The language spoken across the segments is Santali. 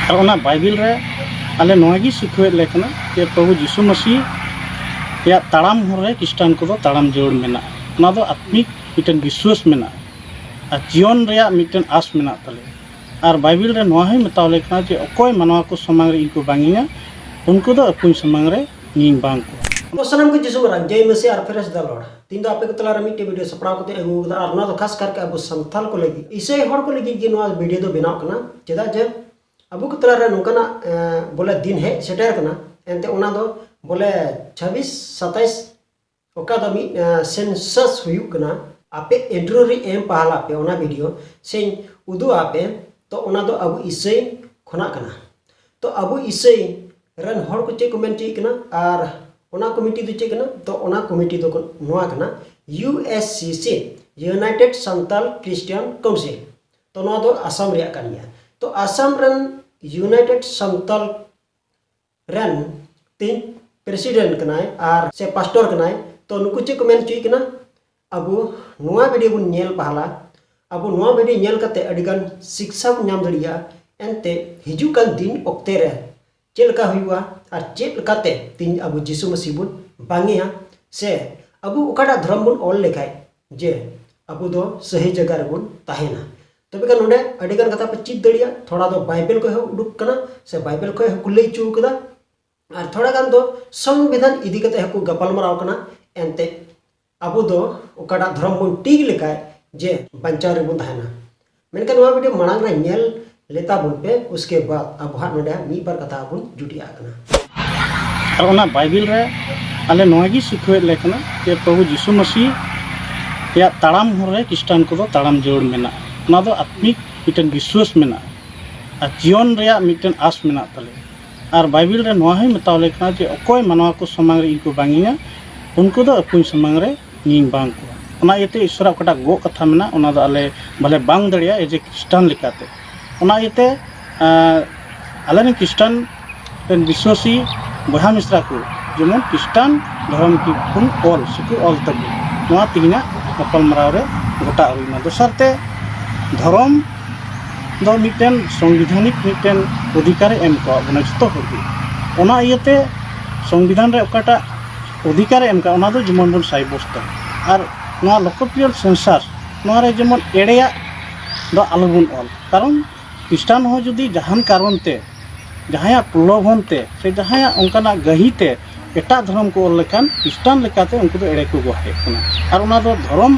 ᱟᱨ ᱚᱱᱟ ᱵᱟᱭᱵᱤᱞ ᱨᱮ ᱟᱞᱮ ᱱᱚᱣᱟ ᱜᱮ ᱥᱤᱠᱷᱟᱹᱣᱮᱫ ᱞᱮ ᱠᱟᱱᱟ ᱡᱮ ᱯᱨᱚᱵᱷᱩ ᱡᱤᱥᱩ ᱢᱟᱹᱥᱤ ᱨᱮᱭᱟᱜ ᱛᱟᱲᱟᱢ ᱦᱚᱨ ᱨᱮ ᱠᱷᱨᱤᱥᱴᱟᱱ ᱠᱚᱫᱚ ᱛᱟᱲᱟᱢ ᱡᱟᱹᱨᱩᱲ ᱢᱮᱱᱟᱜᱼᱟ ᱚᱱᱟ ᱫᱚ ᱟᱛᱢᱤᱠ ᱢᱤᱫᱴᱮᱱ ᱵᱤᱥᱣᱟᱹᱥ ᱢᱮᱱᱟᱜᱼᱟ ᱟᱨ ᱡᱤᱭᱚᱱ ᱨᱮᱭᱟᱜ ᱢᱤᱫᱴᱮᱱ ᱟᱥ ᱢᱮᱱᱟᱜ ᱛᱟᱞᱮᱭᱟ ᱟᱨ ᱵᱟᱭᱵᱤᱞ ᱨᱮ ᱱᱚᱣᱟ ᱦᱚᱸᱭ ᱢᱮᱛᱟᱣ ᱞᱮ ᱠᱟᱱᱟ ᱡᱮ ᱚᱠᱚᱭ ᱢᱟᱱᱣᱟ ᱠᱚ ᱥᱟᱢᱟᱝ ᱨᱮ ᱤᱧ ᱠᱚ ᱵᱟᱝᱤᱧᱟ ᱩᱱᱠᱩ ᱫᱚ ᱟᱠᱚᱧ ᱥᱟᱢᱟᱝ ᱨᱮ ᱤᱧᱤᱧ ᱵᱟᱝ ᱠᱚᱣᱟ ᱥᱟᱱᱟᱢ ᱠᱚ ᱡᱤᱥᱩ ᱢᱟᱨᱟᱝ ᱡᱚᱭ ᱢᱮᱥᱤ ᱟᱨ ᱯᱷᱮᱨᱮᱥ ᱫᱟ ᱞᱚᱨᱰ ᱛᱤᱦᱤᱧ ᱫᱚ ᱟᱯᱮ ᱠᱚ ᱛᱟᱞᱟᱨᱮ ᱢᱤᱫᱴᱮᱡ ᱵᱷᱤᱰᱤᱭᱳ ᱥᱟᱯᱲᱟᱣ ᱠᱟᱛᱮ ᱟᱹᱜᱩ ᱟᱠᱟᱫᱟ ᱟᱨ ᱱᱚᱣᱟ ᱫᱚ ᱠᱷᱟᱥ ᱠᱟᱨᱠᱮ ᱟᱵᱚ ᱥᱟᱱᱛᱟᱞ ᱠᱚ ᱞᱟᱹᱜᱤᱫ ᱤᱥᱟᱹᱭ ᱦᱚᱲ ᱠᱚ ᱞᱟᱹᱜᱤᱫ ᱜᱮ ᱱᱚᱣᱟ ᱵᱷᱤᱰᱤᱭᱳ ᱫᱚ ᱵᱮᱱᱟᱣ ᱠᱟᱱᱟ ᱪᱮᱫᱟᱜ ᱡᱮ ᱟᱵᱚ ᱠᱚ ᱛᱟᱞᱟᱨᱮ ᱱᱚᱝᱠᱟᱱᱟᱜ ᱵᱚᱞᱮ ᱫᱤᱱ ᱦᱮᱡ ᱥᱮᱴᱮᱨ ᱠᱟᱱᱟ ᱮᱱᱛᱮ ᱚᱱᱟ ᱫᱚ ᱵᱚᱞᱮ ᱪᱷᱟᱵᱤᱥ ᱥᱟᱛᱟᱭᱤᱥ ᱚᱠᱟ ᱫᱚ ᱢᱤᱫ ᱥᱮᱱᱥᱟᱥ ᱦᱩᱭᱩᱜ ᱠᱟᱱᱟ ᱟᱯᱮ ᱤᱱᱴᱨᱳ ᱨᱮ ᱮᱢ ᱯᱟᱦᱟᱞᱟ ᱯᱮ ᱚᱱᱟ ᱵᱷᱤᱰᱤᱭᱳ ᱥᱮᱧ ᱩᱫᱩᱜ ᱟᱯᱮ ᱛᱚ ᱚᱱᱟ ᱫᱚ ᱟᱵᱚ ᱤᱥᱟᱹᱭ ᱠᱷᱚᱱᱟᱜ ᱠᱟᱱᱟ ᱛᱚ ᱟᱵᱚ ᱤᱥᱟᱹᱭ ᱨᱮᱱ ᱦᱚᱲ ᱠᱚ ᱪᱮᱫ ᱠᱚ ᱢᱮᱱ ᱪᱮᱫ ᱠᱟᱱᱟ ᱟᱨ ᱚᱱᱟ ᱠᱚᱢᱤᱴᱤ ᱫᱚ ᱪᱮᱫ ᱠᱟᱱᱟ ᱛᱚ ᱚᱱᱟ ᱠᱚᱢᱤᱴᱤ ᱫᱚ ᱱᱚᱣᱟ ᱠᱟᱱᱟ U S C C United Santal Christian Council ᱛᱚ ᱱᱚᱣᱟ ᱫᱚ ᱟᱥᱟᱢ ᱨᱮᱭᱟᱜ ᱠᱟᱱ ᱜᱮᱭᱟ ᱛᱚ ᱟᱥᱟᱢ ᱨᱮᱱ ᱭᱩᱱᱟᱭᱴᱮᱰ ᱥᱟᱱᱛᱟᱞ ᱨᱮᱱ ᱛᱤᱧ ᱯᱨᱮᱥᱤᱰᱮᱱᱴ ᱠᱟᱱᱟᱭ ᱟᱨ ᱥᱮ ᱯᱟᱥᱴᱚᱨ ᱠᱟᱱᱟᱭ ᱛᱚ ᱱᱩᱠᱩ ᱪᱮᱫ ᱠᱚ ᱢᱮᱱ ᱦᱚᱪᱚᱭᱮ ᱠᱟᱱᱟ ᱟᱵᱚ ᱱᱚᱣᱟ ᱵᱷᱤᱰᱤᱭᱳ ᱵᱚᱱ ᱧᱮᱞ ᱯᱟᱦᱞᱟ ᱟᱵᱚ ᱱᱚᱣᱟ ᱵᱷᱤᱰᱤᱭᱳ ᱧᱮᱞ ᱠᱟᱛᱮ ᱟᱹᱰᱤ ᱜᱟᱱ ᱥᱤᱠᱥᱟ ᱵᱚᱱ ᱧᱟᱢ ᱫᱟᱲᱮᱭᱟᱜᱼᱟ ᱮᱱᱛᱮ ᱦᱤᱡᱩᱜ ᱠᱟᱱ ᱫᱤᱱ ᱚᱠᱛᱮ ᱨᱮ ᱪᱮᱫ ᱞᱮᱠᱟ ᱦᱩᱭᱩᱜᱼᱟ ᱟᱨ ᱪᱮᱫ ᱞᱮᱠᱟᱛᱮ ᱛᱤᱧ ᱟᱵᱚ ᱡᱤᱥᱩ ᱢᱟᱹᱥᱤ ᱵᱚᱱ ᱵᱟᱝᱮᱭᱟ ᱥᱮ ᱟᱵᱚ ᱚᱠᱟᱴᱟᱜ ᱫᱷᱚᱨᱚᱢ ᱵᱚᱱ ᱚᱞ ᱞᱮᱠᱷᱟᱡ ᱡᱮ ᱟᱵᱚ ᱫᱚ ᱥᱟᱹᱦᱤ ᱡᱟᱭᱜᱟ ᱨᱮᱵᱚᱱ ᱛᱟᱦᱮᱱᱟ ᱛᱚᱵᱮ ᱠᱷᱟᱱ ᱱᱚᱰᱮ ᱟᱹᱰᱤ ᱜᱟᱱ ᱠᱟᱛᱷᱟ ᱯᱮ ᱪᱮᱫ ᱫᱟᱲᱮᱭᱟᱜᱼᱟ ᱛᱷᱚᱲᱟ ᱫᱚ ᱵᱟᱭᱵᱮᱞ ᱠᱷᱚᱡ ᱦᱚᱸ ᱩᱰᱩᱠ ᱠᱟᱱᱟ ᱥᱮ ᱵᱟᱭᱵᱮᱞ ᱠᱷᱚᱡ ᱦᱚᱸᱠᱚ ᱞᱟᱹᱭ ᱦᱚᱪᱚ ᱠᱟᱫᱟ ᱟᱨ ᱛᱷᱚᱲᱟ ᱜᱟᱱ ᱫᱚ ᱥᱚᱝᱵᱤᱫᱷᱟᱱ ᱤᱫᱤ ᱠᱟᱛᱮ ᱦᱚᱸᱠᱚ ᱜᱟᱯᱟᱞᱢᱟᱨᱟᱣ ᱠᱟᱱᱟ ᱮᱱᱛᱮ ᱟᱵᱚ ᱫᱚ ᱚᱠᱟᱴᱟᱜ ᱫᱷᱚᱨᱚᱢ ᱵᱚᱱ ᱴᱤᱠ ᱞᱮᱠᱷᱟᱡ ᱡᱮ ᱵᱟᱧᱪᱟᱣ ᱨᱮᱵᱚᱱ ᱛᱟᱦᱮᱱᱟ ᱢᱮᱱᱠᱷᱟᱱ ᱱᱚᱣᱟ ᱵᱷᱤᱰᱤᱭᱳ ᱢᱟᱲᱟᱝ ᱨᱮ ᱧᱮᱞ ᱞᱮᱛᱟ ᱵᱚᱱ ᱯᱮ ᱩᱥᱠᱮ ᱵᱟᱫ ᱟᱵᱚ ᱦᱟᱸᱜ ᱱᱚᱰᱮ ᱢᱤᱫ ᱵᱟᱨ ᱠᱟᱛᱷᱟ ᱵᱚᱱ ᱡᱩᱴᱤᱭᱟᱜ ᱠᱟᱱᱟ ᱟᱨ ᱚᱱᱟ ᱵᱟᱭᱵᱤᱞ ᱨᱮ ᱟᱞᱮ ᱱᱚᱣᱟ ᱜᱮ ᱥᱤᱠᱷᱟᱹᱣᱮᱫ ᱞᱮ ᱠᱟᱱᱟ ᱡᱮ ᱯᱨᱚᱵᱷᱩ ᱡᱤᱥᱩ ᱢᱟᱹᱥᱤ ᱨᱮᱭᱟᱜ ᱛᱟᱲᱟᱢ ᱦᱚᱨ ᱨᱮ ᱠᱷᱨᱤᱥᱴᱟᱱ ᱠᱚᱫᱚ ᱛᱟᱲᱟᱢ ᱡᱟᱹᱨᱩᱲ ᱢᱮᱱᱟᱜᱼᱟ ᱚᱱᱟ ᱫᱚ ᱟᱛᱢᱤᱠ ᱢᱤᱫᱴᱮᱱ ᱵᱤᱥᱣᱟᱹᱥ ᱢᱮᱱᱟᱜᱼᱟ ᱟᱨ ᱡᱤᱭᱚᱱ ᱨᱮᱭᱟᱜ ᱢᱤᱫᱴᱮᱱ ᱟᱥ ᱢᱮᱱᱟᱜ ᱛᱟᱞᱮᱭᱟ ᱟᱨ ᱵᱟᱭᱵᱤᱞ ᱨᱮ ᱱᱚᱣᱟ ᱦᱚᱸᱭ ᱢᱮᱛᱟᱣ ᱞᱮ ᱠᱟᱱᱟ ᱡᱮ ᱚᱠᱚᱭ ᱢᱟᱱᱣᱟ ᱠᱚ ᱥᱟᱢᱟᱝ ᱨᱮ ᱤᱧ ᱠᱚ ᱵᱟᱝᱤᱧᱟ ᱩᱱᱠᱩ ᱫᱚ ᱟᱠᱚᱧ ᱥᱟᱢᱟᱝ ᱨᱮ ᱤᱧᱤᱧ ᱵᱟᱝ ᱠᱚᱣᱟ ᱚᱱᱟ ᱤᱭᱟᱹᱛᱮ ᱤᱥᱚᱨᱟᱜ ᱚᱠᱟᱴᱟᱜ ᱜᱚᱜ ᱠᱟᱛᱷᱟ ᱢᱮᱱᱟᱜᱼᱟ ᱚᱱᱟ ᱫᱚ ᱟᱞᱮ ᱵᱟᱞᱮ ᱵᱟᱝ ᱫᱟᱲᱮᱭᱟᱜᱼᱟ ᱮᱡᱮ ᱠᱷᱨᱤᱥᱴᱟᱱ ᱞᱮᱠᱟᱛᱮ ᱚᱱᱟ ᱤᱭᱟᱹᱛᱮ ᱟᱞᱮ ᱨᱮᱱ ᱠᱷᱨᱤᱥᱴᱟᱱ ᱨᱮᱱ ᱵᱤᱥᱥᱟᱹᱥᱤ ᱵᱚᱭᱦᱟ ᱢᱤᱥᱨᱟ ᱠᱚ ᱡᱮᱢᱚᱱ ᱠᱷᱨᱤᱥᱴᱟᱱ ᱫᱷᱚᱨᱚᱢ ᱠᱚᱵᱚᱱ ᱚᱞ ᱥᱮᱠᱚ ᱚᱞ ᱛᱟᱵᱚᱱ ᱱᱚᱣᱟ ᱛᱮᱦᱮᱧᱟᱜ ᱜᱟᱯᱟᱞᱢᱟᱨᱟᱣ ᱨᱮ ᱜᱚᱴᱟ ᱦᱩᱭᱱᱟ ᱫᱚᱥᱟᱨ ᱛᱮ ᱫᱷᱚᱨᱚᱢ ᱫᱚ ᱢᱤᱫᱴᱮᱱ ᱥᱚᱝᱵᱤᱫᱷᱟᱱᱤᱠ ᱢᱤᱫᱴᱮᱱ ᱚᱫᱷᱤᱠᱟᱨᱮ ᱮᱢ ᱟᱠᱟᱫ ᱵᱚᱱᱟ ᱡᱚᱛᱚ ᱦᱚᱲ ᱜᱮ ᱚᱱᱟ ᱤᱭᱟᱹᱛᱮ ᱥᱚᱝᱵᱤᱫᱷᱟᱱ ᱨᱮ ᱚᱠᱟᱴᱟᱜ ᱚᱫᱷᱤᱠᱟᱨᱮ ᱮᱢ ᱟᱠᱟᱫ ᱚᱱᱟ ᱫᱚ ᱡᱮᱢᱚᱱ ᱵᱚᱱ ᱥᱟᱵᱵᱚᱥᱛᱚᱭ ᱟᱨ ᱱᱚᱣᱟ ᱞᱳᱠᱚ ᱯᱤᱭᱚᱱ ᱥᱚᱝᱥᱟᱨ ᱱᱚᱣᱟ ᱨᱮ ᱡᱮᱢᱚᱱ ᱮᱲᱮᱭᱟᱜ ᱫᱚ ᱟᱞᱚ ᱵᱚᱱ ᱚᱞ ᱠᱟᱨᱚᱱ ᱠᱷᱨᱤᱥᱴᱟᱱ ᱦᱚᱸ ᱡᱩᱫᱤ ᱡᱟᱦᱟᱱ ᱠᱟᱨᱚᱱ ᱛᱮ ᱡᱟᱦᱟᱸᱭᱟᱜ ᱯᱨᱚᱞᱳᱵᱷᱚᱱ ᱛᱮ ᱥᱮ ᱡᱟᱦᱟᱸᱭᱟᱜ ᱚᱱᱠᱟᱱᱟᱜ ᱜᱟᱹᱦᱤᱨ ᱛᱮ ᱮᱴᱟᱜ ᱫᱷᱚᱨᱚᱢ ᱠᱚ ᱚᱞ ᱞᱮᱠᱷᱟᱱ ᱠᱷᱨᱤᱥᱴᱟᱱ ᱞᱮᱠᱟᱛᱮ ᱩᱱᱠᱩ ᱫᱚ ᱮᱲᱮ ᱠᱚ ᱵᱮᱵᱚᱦᱟᱨᱮᱫ ᱠᱟᱱᱟ ᱟᱨ ᱚᱱᱟ ᱫᱚ ᱫᱷᱚᱨᱚᱢ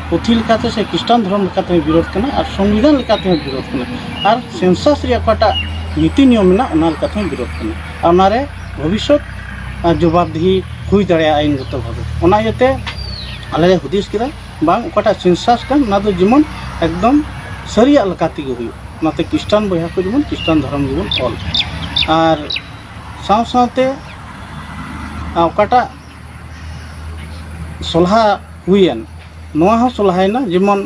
ᱯᱩᱛᱷᱤ ᱞᱮᱠᱟᱛᱮ ᱥᱮ ᱠᱷᱨᱤᱥᱴᱟᱱ ᱫᱷᱚᱨᱚᱢ ᱞᱮᱠᱟᱛᱮ ᱦᱚᱸ ᱵᱤᱨᱳᱫᱷ ᱠᱟᱱᱟ ᱟᱨ ᱥᱚᱝᱵᱤᱫᱷᱟᱱ ᱞᱮᱠᱟ ᱛᱮᱦᱚᱸ ᱵᱤᱨᱳᱫᱷ ᱠᱟᱱᱟ ᱟᱨ ᱥᱮᱱᱥᱟᱥ ᱨᱮᱭᱟᱜ ᱚᱠᱟᱴᱟᱜ ᱱᱤᱛᱤ ᱱᱤᱭᱚᱢ ᱢᱮᱱᱟᱜ ᱚᱱᱟ ᱞᱮᱠᱟ ᱛᱮᱦᱚᱸ ᱵᱤᱨᱳᱫᱷ ᱠᱟᱱᱟ ᱟᱨ ᱚᱱᱟ ᱨᱮ ᱵᱷᱚᱵᱤᱥᱥᱚᱛ ᱟᱨ ᱡᱚᱵᱟᱵᱽ ᱫᱤᱦᱤ ᱦᱩᱭ ᱫᱟᱲᱮᱭᱟᱜᱼᱟ ᱟᱹᱭᱤᱱ ᱜᱚᱛᱚ ᱵᱷᱟᱵᱮ ᱚᱱᱟ ᱤᱭᱟᱹ ᱛᱮ ᱟᱞᱮ ᱞᱮ ᱦᱩᱫᱤᱥ ᱠᱮᱫᱟ ᱵᱟᱝ ᱚᱠᱟᱴᱟᱜ ᱥᱮᱱᱥᱟᱥ ᱠᱟᱱ ᱚᱱᱟ ᱫᱚ ᱡᱮᱢᱚᱱ ᱮᱠᱫᱚᱢ ᱥᱟᱹᱨᱤᱭᱟᱜ ᱞᱮᱠᱟ ᱛᱮᱜᱮ ᱦᱩᱭᱩᱜ ᱚᱱᱟᱛᱮ ᱠᱷᱨᱤᱥᱴᱟᱱ ᱵᱚᱭᱦᱟ ᱠᱚ ᱡᱮᱢᱚᱱ ᱠᱷᱨᱤᱥᱴᱟᱱ ᱫᱷᱚᱨᱚᱢ ᱜᱮᱵᱚᱱ ᱚᱞ ᱟᱨ ᱥᱟᱶ ᱥᱟᱶᱛᱮ ᱚᱠᱟᱴᱟᱜ ᱥᱚᱞᱦᱟ ᱦᱩᱭᱮᱱ ᱱᱚᱣᱟ ᱦᱚᱸ ᱥᱚᱞᱦᱟᱭᱮᱱᱟ ᱡᱮᱢᱚᱱ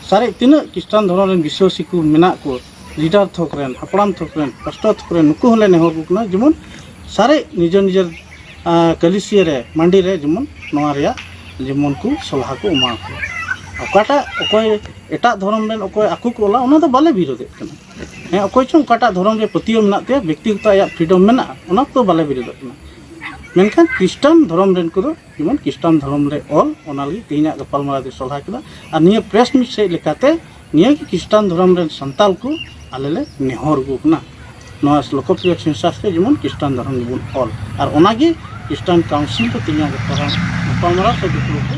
ᱥᱟᱨᱮᱡ ᱛᱤᱱᱟᱹᱜ ᱠᱷᱨᱤᱥᱴᱟᱱ ᱫᱷᱚᱨᱚᱢ ᱨᱮᱱ ᱵᱤᱥᱥᱟᱹᱥᱤ ᱠᱚ ᱢᱮᱱᱟᱜ ᱠᱚ ᱞᱤᱰᱟᱨ ᱛᱷᱚᱠ ᱨᱮᱱ ᱦᱟᱯᱲᱟᱢ ᱛᱷᱚᱠ ᱨᱮᱱ ᱯᱟᱥᱴᱚᱨ ᱛᱷᱚᱠ ᱨᱮᱱ ᱱᱩᱠᱩ ᱦᱚᱸᱞᱮ ᱱᱮᱦᱚᱨ ᱟᱠᱚ ᱠᱟᱱᱟ ᱡᱮᱢᱚᱱ ᱥᱟᱨᱮᱡ ᱱᱤᱡᱮᱨ ᱱᱤᱡᱮᱨ ᱠᱟᱹᱞᱤᱥᱤᱭᱟᱹ ᱨᱮ ᱢᱟᱹᱰᱤ ᱨᱮ ᱡᱮᱢᱚᱱ ᱱᱚᱣᱟ ᱨᱮᱭᱟᱜ ᱡᱮᱢᱚᱱ ᱠᱚ ᱥᱚᱞᱦᱟ ᱠᱚ ᱮᱢᱟ ᱠᱚ ᱚᱠᱟᱴᱟᱜ ᱚᱠᱚᱭ ᱮᱴᱟᱜ ᱫᱷᱚᱨᱚᱢ ᱨᱮᱱ ᱚᱠᱚᱭ ᱟᱠᱚ ᱠᱚ ᱚᱞᱟ ᱚᱱᱟ ᱫᱚ ᱵᱟᱞᱮ ᱵᱤᱨᱳᱫᱮᱫ ᱠᱟᱱᱟ ᱦᱮᱸ ᱚᱠᱚᱭ ᱪᱚᱝ ᱚᱠᱟᱴᱟᱜ ᱫᱷᱚᱨᱚᱢ ᱨᱮ ᱯᱟᱹᱛᱭᱟᱹᱣ ᱢᱮᱱᱟᱜ ᱛᱟᱭᱟ ᱵᱮᱠᱛᱤᱜᱚᱛᱚ ᱟᱭᱟᱜ ᱯᱷᱨᱤᱰᱚᱢ ᱢᱮᱱᱟᱜᱼᱟ ᱚᱱᱟ ᱠᱚᱫᱚ ᱵᱟᱞᱮ ᱵᱤᱨᱳᱫᱚᱜ ᱠᱟᱱᱟ ᱢᱮᱱᱠᱷᱟᱱ ᱠᱷᱨᱤᱥᱴᱟᱱ ᱫᱷᱚᱨᱚᱢ ᱨᱮᱱ ᱠᱚᱫᱚ ᱡᱮᱢᱚᱱ ᱠᱷᱨᱤᱥᱴᱟᱱ ᱫᱷᱚᱨᱚᱢ ᱨᱮ ᱚᱞ ᱚᱱᱟ ᱞᱟᱹᱜᱤᱫ ᱛᱮᱦᱮᱧᱟᱜ ᱜᱟᱯᱟᱞᱢᱟᱨᱟᱣ ᱫᱚ ᱥᱚᱞᱦᱟ ᱠᱮᱫᱟ ᱟᱨ ᱱᱤᱭᱟᱹ ᱯᱨᱮᱥ ᱢᱤᱴ ᱥᱮᱫ ᱞᱮᱠᱟᱛᱮ ᱱᱤᱭᱟᱹ ᱜᱮ ᱠᱷᱨᱤᱥᱴᱟᱱ ᱫᱷᱚᱨᱚᱢ ᱨᱮᱱ ᱥᱟᱱᱛᱟᱞ ᱠᱚ ᱟᱞᱮ ᱞᱮ ᱱᱮᱦᱚᱨ ᱟᱹᱜᱩ ᱠᱟᱱᱟ ᱱᱚᱣᱟ ᱞᱳᱠᱚᱯᱨᱤᱭᱚ ᱥᱮᱱᱥᱟᱥ ᱨᱮ ᱡᱮᱢᱚᱱ ᱠᱷᱨᱤᱥᱴᱟᱱ ᱫᱷᱚᱨᱚᱢ ᱜᱮᱵᱚᱱ ᱚᱞ ᱟᱨ ᱚᱱᱟᱜᱮ ᱠᱷᱨᱤᱥᱴᱟᱱ ᱠᱟᱣᱩᱱᱥᱤᱞ ᱫᱚ ᱛᱮᱦᱮᱧᱟᱜ ᱜᱟᱯᱟᱞᱢᱟᱨᱟᱣ ᱥᱮ ᱫᱩᱯᱲᱩᱵ ᱨᱮ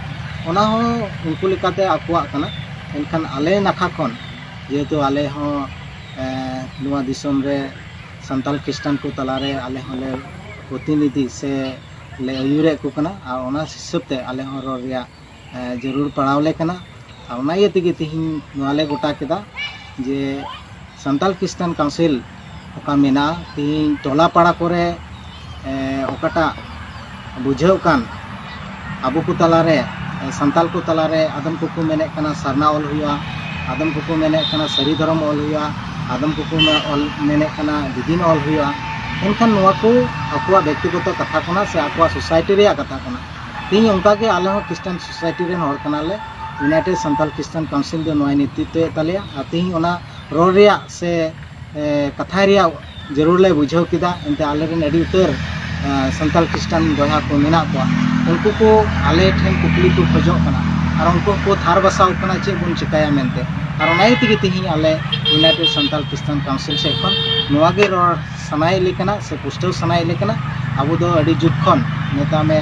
ᱚᱱᱟ ᱦᱚᱸ ᱩᱱᱠᱩ ᱞᱮᱠᱟᱛᱮ ᱟᱠᱚᱣᱟᱜ ᱠᱟᱱᱟ ᱮᱱᱠᱷᱟᱱ ᱟᱞᱮ ᱱᱟᱠᱷᱟ ᱠᱷᱚᱱ ᱡᱮᱦᱮᱛᱩ ᱟᱞᱮ ᱦᱚᱸ ᱱᱚᱣᱟ ᱫᱤᱥᱚᱢ ᱨᱮ ᱥᱟᱱᱛᱟᱲ ᱠᱷᱨᱤᱥᱴᱟᱱ ᱠᱚ ᱛᱟᱞᱟᱨᱮ ᱟᱞᱮ ᱦᱚᱸᱞᱮ ᱯᱨᱚᱛᱤᱱᱤᱫᱷᱤ ᱥᱮ ᱞᱮ ᱟᱹᱭᱩᱨᱮᱫ ᱠᱚ ᱠᱟᱱᱟ ᱟᱨ ᱚᱱᱟ ᱦᱤᱥᱟᱹᱵ ᱛᱮ ᱟᱞᱮ ᱦᱚᱸ ᱨᱚᱲ ᱨᱮᱭᱟᱜ ᱡᱟᱹᱨᱩᱲ ᱯᱟᱲᱟᱣ ᱞᱮ ᱠᱟᱱᱟ ᱟᱨ ᱚᱱᱟ ᱤᱭᱟᱹ ᱛᱮᱜᱮ ᱛᱮᱦᱮᱧ ᱱᱚᱣᱟ ᱞᱮ ᱜᱚᱴᱟ ᱠᱮᱫᱟ ᱡᱮ ᱥᱟᱱᱛᱟᱲ ᱠᱷᱨᱤᱥᱴᱟᱱ ᱠᱟᱣᱩᱱᱥᱤᱞ ᱚᱠᱟ ᱢᱮᱱᱟᱜᱼᱟ ᱛᱮᱦᱮᱧ ᱴᱚᱞᱟ ᱯᱟᱲᱟ ᱠᱚᱨᱮ ᱚᱠᱟᱴᱟᱜ ᱵᱩᱡᱷᱟᱹᱜ ᱠᱟᱱ ᱟᱵᱚ ᱠᱚ ᱛᱟᱞᱟᱨᱮ ᱥᱟᱱᱛᱟᱞ ᱠᱚ ᱛᱟᱞᱟᱨᱮ ᱟᱫᱚᱢ ᱠᱚᱠᱚ ᱢᱮᱱᱮᱫ ᱠᱟᱱᱟ ᱥᱟᱨᱱᱟ ᱚᱞ ᱦᱩᱭᱩᱜᱼᱟ ᱟᱫᱚᱢ ᱠᱚᱠᱚ ᱢᱮᱱᱮᱫ ᱠᱟᱱᱟ ᱥᱟᱹᱨᱤ ᱫᱷᱚᱨᱚᱢ ᱚᱞ ᱦᱩᱭᱩᱜᱼᱟ ᱟᱫᱚᱢ ᱠᱚᱠᱚ ᱚᱞ ᱢᱮᱱᱮᱫ ᱠᱟᱱᱟ ᱫᱤᱫᱤᱱ ᱚᱞ ᱦᱩᱭᱩᱜᱼᱟ ᱮᱱᱠᱷᱟᱱ ᱱᱚᱣᱟ ᱠᱚ ᱟᱠᱚᱣᱟᱜ ᱵᱮᱠᱛᱤᱜᱚᱛᱚ ᱠᱟᱛᱷᱟ ᱠᱟᱱᱟ ᱥᱮ ᱟᱠᱚᱣᱟᱜ ᱥᱳᱥᱟᱭᱴᱤ ᱨᱮᱭᱟᱜ ᱠᱟᱛᱷᱟ ᱠᱟᱱᱟ ᱛᱮᱦᱮᱧ ᱚᱱᱠᱟᱜᱮ ᱟᱞᱮ ᱦᱚᱸ ᱠᱷᱨᱤᱥᱴᱟᱱ ᱥᱳᱥᱟᱭᱴᱤ ᱨᱮᱱ ᱦᱚᱲ ᱠᱟᱱᱟᱞᱮ ᱤᱭᱩᱱᱟᱭᱴᱮᱰ ᱥᱟᱱᱛᱟᱞ ᱠᱷᱨᱤᱥᱴᱟᱱ ᱠᱟᱣᱩᱱᱥᱤᱞ ᱫᱚ ᱱᱚᱣᱟᱭ ᱱᱮᱛᱨᱤᱛᱛᱚᱭᱮᱫ ᱛᱟᱞᱮᱭᱟ ᱟᱨ ᱛᱮᱦᱮᱧ ᱚᱱᱟ ᱨᱚᱲ ᱨᱮᱭᱟᱜ ᱥᱮ ᱠᱟᱛᱷᱟᱭ ᱨᱮᱭᱟᱜ ᱡᱟᱹᱨᱩᱲ ᱞᱮ ᱵᱩᱡᱷᱟᱹᱣ ᱠᱮᱫᱟ ᱮᱱᱛᱮ ᱟᱞᱮ ᱨᱮᱱ ᱟᱹᱰᱤ ᱩᱛᱟᱹᱨ ᱥᱟᱱᱛᱟᱲ ᱠᱷᱨᱤᱥᱴᱟᱱ ᱵᱚᱭᱦᱟ ᱠᱚ ᱢᱮᱱᱟᱜ ᱠᱚᱣᱟ ᱩᱱᱠᱩ ᱠᱚ ᱟᱞᱮ ᱴᱷᱮᱱ ᱠᱩᱠᱞᱤ ᱠᱚ ᱠᱷᱚᱡᱚᱜ ᱠᱟᱱᱟ ᱟᱨ ᱩᱱᱠᱩ ᱠᱚ ᱛᱷᱟᱨ ᱵᱟᱥᱟᱣ ᱠᱟᱱᱟ ᱪᱮᱫ ᱵᱚᱱ ᱪᱤᱠᱟᱹᱭᱟ ᱢᱮᱱᱛᱮ ᱟᱨ ᱚᱱᱟ ᱤᱭᱟᱹ ᱛᱮᱜᱮ ᱛᱮᱦᱮᱧ ᱟᱞᱮ ᱤᱭᱩᱱᱟᱭᱴᱮᱰ ᱥᱟᱱᱛᱟᱲ ᱠᱷᱨᱤᱥᱴᱟᱱ ᱠᱟᱣᱩᱱᱥᱤᱞ ᱥᱮᱫ ᱠᱷᱚᱱ ᱱᱚᱣᱟ ᱜᱮ ᱨᱚᱲ ᱥᱟᱱᱟᱭᱮᱫ ᱞᱮ ᱠᱟᱱᱟ ᱥᱮ ᱯᱩᱥᱴᱟᱹᱣ ᱥᱟᱱᱟᱭᱮᱫ ᱞᱮ ᱠᱟᱱᱟ ᱟᱵᱚ ᱫᱚ ᱟᱹᱰᱤ ᱡᱩᱜᱽ ᱠᱷᱚᱱ ᱢᱮᱛᱟᱜ ᱢᱮ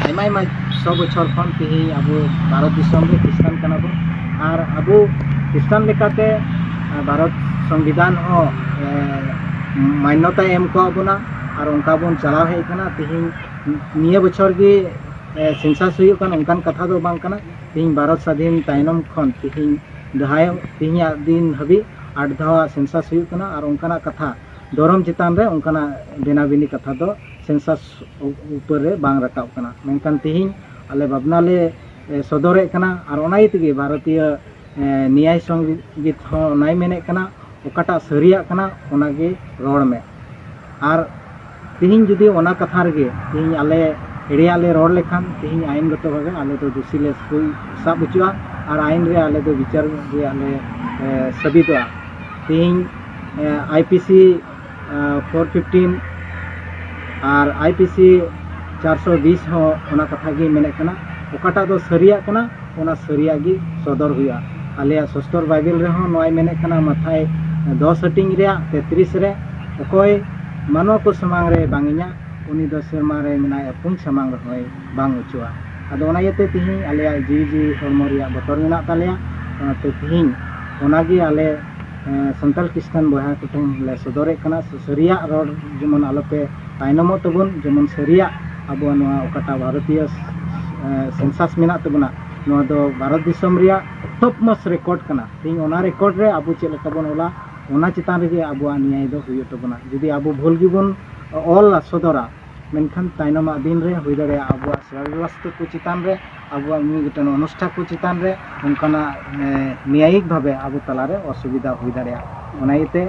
ᱟᱭᱢᱟ ᱟᱭᱢᱟ ᱥᱚ ᱵᱚᱪᱷᱚᱨ ᱠᱷᱚᱱ ᱛᱮᱦᱮᱧ ᱟᱵᱚ ᱵᱷᱟᱨᱚᱛ ᱫᱤᱥᱚᱢ ᱨᱮ ᱠᱷᱨᱤᱥᱴᱟᱱ ᱠᱟᱱᱟ ᱵᱚᱱ ᱟᱨ ᱟᱵᱚ ᱠᱷᱨᱤᱥᱴᱟᱱ ᱞᱮᱠᱟᱛᱮ ᱵᱷᱟᱨᱚᱛ ᱥᱚᱝᱵᱤᱫᱷᱟᱱ ᱦᱚᱸ ᱢᱟᱱᱱᱚᱛᱟᱭ ᱮᱢ ᱠᱟᱣᱟᱫ ᱵᱚᱱᱟ ᱟᱨ ᱚᱱᱠᱟ ᱵᱚᱱ ᱪᱟᱞᱟᱣ ᱦᱮᱡ ᱠᱟᱱᱟ ᱛᱮᱦᱮᱧ ᱱᱤᱭᱟᱹ ᱵᱚᱪᱷᱚᱨ ᱜᱮ ᱥᱮᱱᱥᱟᱥ ᱦᱩᱭᱩᱜ ᱠᱟᱱᱟ ᱚᱱᱠᱟᱱ ᱠᱟᱛᱷᱟ ᱫᱚ ᱵᱟᱝ ᱠᱟᱱᱟ ᱛᱮᱦᱮᱧ ᱵᱷᱟᱨᱚᱛ ᱥᱟᱹᱫᱷᱤᱱ ᱛᱟᱭᱱᱚᱢ ᱠᱷᱚᱱ ᱛᱮᱦᱮᱧ ᱡᱟᱦᱟᱸᱭ ᱛᱮᱦᱮᱧᱟᱜ ᱫᱤᱱ ᱦᱟᱹᱵᱤᱡ ᱟᱴ ᱫᱷᱟᱣᱟᱜ ᱥᱮᱱᱥᱟᱥ ᱦᱩᱭᱩᱜ ᱠᱟᱱᱟ ᱟᱨ ᱚᱱᱠᱟᱱᱟᱜ ᱠᱟᱛᱷᱟ ᱫᱷᱚᱨᱚᱢ ᱪᱮᱛᱟᱱ ᱨᱮ ᱚᱱᱠᱟᱱᱟᱜ ᱵᱮᱱᱟ ᱵᱤᱱᱤ ᱠᱟᱛᱷᱟ ᱫᱚ ᱥᱮᱱᱥᱟᱥ ᱩᱯᱚᱨ ᱨᱮ ᱵᱟᱝ ᱨᱟᱠᱟᱵ ᱠᱟᱱᱟ ᱢᱮᱱᱠᱷᱟᱱ ᱛᱤᱦᱤᱧ ᱟᱞᱮ ᱵᱷᱟᱵᱽᱱᱟ ᱞᱮ ᱥᱚᱫᱚᱨᱮᱫ ᱠᱟᱱᱟ ᱟᱨ ᱚᱱᱟ ᱤᱭᱟᱹ ᱛᱮᱜᱮ ᱵᱷᱟᱨᱚᱛᱤᱭᱚ ᱱᱮᱭᱟᱭ ᱥᱚᱝᱜᱤᱛ ᱦᱚᱸ ᱚᱱᱟᱭ ᱢᱮᱱᱮᱫ ᱠᱟᱱᱟ ᱚᱠᱟᱴᱟᱜ ᱥᱟᱹᱨᱤᱭᱟᱜ ᱠᱟᱱᱟ ᱚᱱᱟᱜᱮ ᱨᱚᱲ ᱢᱮ ᱟᱨ ᱛᱮᱦᱮᱧ ᱡᱩᱫᱤ ᱚᱱᱟ ᱠᱟᱛᱷᱟ ᱨᱮᱜᱮ ᱛᱮᱦᱮᱧ ᱟᱞᱮ ᱮᱲᱮᱭᱟᱜ ᱞᱮ ᱨᱚᱲ ᱞᱮᱠᱷᱟᱱ ᱛᱮᱦᱮᱧ ᱟᱭᱤᱱ ᱜᱚᱛᱚ ᱵᱷᱟᱵᱮ ᱟᱞᱮ ᱫᱚ ᱫᱩᱥᱤ ᱞᱮ ᱥᱟᱵ ᱦᱚᱪᱚᱜᱼᱟ ᱟᱨ ᱟᱭᱤᱱ ᱨᱮ ᱟᱞᱮ ᱫᱚ ᱵᱤᱪᱟᱹᱨ ᱨᱮᱭᱟᱜ ᱞᱮ ᱥᱟᱹᱵᱤᱫᱚᱜᱼᱟ ᱛᱮᱦᱮᱧ I P C four fifteen ᱟᱨ ᱟᱭ ᱯᱤ ᱥᱤ ᱪᱟᱨᱥᱚ ᱵᱤᱥ ᱦᱚᱸ ᱚᱱᱟ ᱠᱟᱛᱷᱟ ᱜᱮ ᱢᱮᱱᱮᱫ ᱠᱟᱱᱟ ᱚᱠᱟᱴᱟᱜ ᱫᱚ ᱥᱟᱹᱨᱤᱭᱟᱜ ᱠᱟᱱᱟ ᱚᱱᱟ ᱥᱟᱹᱨᱤᱭᱟᱜ ᱜᱮ ᱥᱚᱫᱚᱨ ᱦᱩᱭᱩᱜᱼᱟ ᱟᱞᱮᱭᱟᱜ ᱥᱚᱥᱛᱚᱨ ᱵᱟᱭᱵᱮᱞ ᱨᱮᱦᱚᱸ ᱱᱚᱣᱟᱭ ᱢᱮᱱᱮᱫ ᱠᱟᱱᱟ ᱢᱟᱛᱷᱟᱭ ᱫᱚᱥ ᱦᱟᱹᱴᱤᱧ ᱨᱮᱭᱟᱜ ᱛᱮᱛᱨᱤᱥ ᱨᱮ ᱚᱠᱚᱭ ᱢᱟᱱᱣᱟ ᱠᱚ ᱥᱟᱢᱟᱝ ᱨᱮ ᱵᱟᱝ ᱤᱧᱟᱹᱜ ᱩᱱᱤ ᱫᱚ ᱥᱮᱨᱢᱟ ᱨᱮ ᱢᱮᱱᱟᱭ ᱟᱹᱯᱩᱧ ᱥᱟᱢᱟᱝ ᱨᱮᱦᱚᱸᱭ ᱵᱟᱝ ᱚᱪᱚᱜᱼᱟ ᱟᱫᱚ ᱚᱱᱟ ᱤᱭᱟᱹᱛᱮ ᱛᱤᱦᱤᱧ ᱟᱞᱮᱭᱟᱜ ᱡᱤᱣᱤ ᱡᱤᱣᱤ ᱦᱚᱲᱢᱚ ᱨᱮᱭᱟᱜ ᱵᱚᱛᱚᱨ ᱢᱮᱱᱟᱜ ᱛᱟᱞᱮᱭᱟ ᱚᱱᱟᱛᱮ ᱛᱤᱦᱤᱧ ᱚᱱᱟᱜᱮ ᱟᱞᱮ ᱥᱟᱱᱛᱟᱲ ᱠᱨᱤᱥᱴᱟᱱ ᱵᱚᱭᱦᱟ ᱠᱚᱴᱷᱮᱱ ᱞᱮ ᱥᱚᱫᱚᱨᱮᱫ ᱠᱟᱱᱟ ᱥᱮ ᱥᱟᱹᱨᱤᱭᱟᱜ ᱨᱚᱲ ᱡᱮᱢᱚᱱ ᱟᱞᱚᱯᱮ ᱛᱟᱭᱱᱚᱢᱚᱜ ᱛᱟᱵᱚᱱ ᱡᱮᱢᱚᱱ ᱥᱟᱹᱨᱤᱭᱟᱜ ᱟᱵᱚᱣᱟᱜ ᱱᱚᱣᱟ ᱚᱠᱟᱴᱟᱜ ᱵᱷᱟᱨᱚᱛᱤᱭᱚ ᱥᱮᱱᱥᱟᱥ ᱢᱮᱱᱟᱜ ᱛᱟᱵᱚᱱᱟ ᱱᱚᱣᱟ ᱫᱚ ᱵᱷᱟᱨᱚᱛ ᱫᱤᱥᱚᱢ ᱨᱮᱭᱟᱜ ᱴᱚᱯ ᱢᱚᱥ ᱨᱮᱠᱚᱨᱰ ᱠᱟᱱᱟ ᱛᱮᱦᱮᱧ ᱚᱱᱟ ᱨᱮᱠᱚᱨᱰ ᱨᱮ ᱟᱵᱚ ᱪᱮᱫ ᱞᱮᱠᱟ ᱵᱚᱱ ᱚᱞᱟ ᱚᱱᱟ ᱪᱮᱛᱟᱱ ᱨᱮᱜᱮ ᱟᱵᱚᱣᱟᱜ ᱱᱤᱭᱟᱭ ᱫᱚ ᱦᱩᱭᱩᱜ ᱛᱟᱵᱚᱱᱟ ᱡᱩᱫᱤ ᱟᱵᱚ ᱵᱷᱩᱞ ᱜᱮᱵᱚᱱ ᱚᱞᱟ ᱥᱚᱫᱚᱨᱟ ᱢᱮᱱᱠᱷᱟᱱ ᱛᱟᱭᱱᱚᱢᱟᱜ ᱫᱤᱱ ᱨᱮ ᱦᱩᱭ ᱫᱟᱲᱮᱭᱟᱜᱼᱟ ᱟᱵᱚᱣᱟᱜ ᱥᱚᱨᱚᱞ ᱨᱟᱥᱛᱟ ᱠᱚ ᱪᱮᱛᱟᱱ ᱨᱮ ᱟᱵᱚᱣᱟᱜ ᱢᱤᱫ ᱜᱚᱴᱮᱱ ᱚᱱᱩᱥᱴᱷᱟ ᱠᱚ ᱪᱮᱛᱟᱱ ᱨᱮ ᱚᱱᱠᱟᱱᱟᱜ ᱱᱮᱭᱟᱭᱤᱠ ᱵᱷᱟᱵᱮ ᱟᱵᱚ ᱛᱟᱞᱟ ᱨᱮ ᱚᱥᱩᱵᱤᱫᱟ ᱦᱩᱭ ᱫᱟᱲᱮᱭᱟᱜᱼᱟ ᱚᱱᱟ ᱤᱭᱟᱹᱛᱮ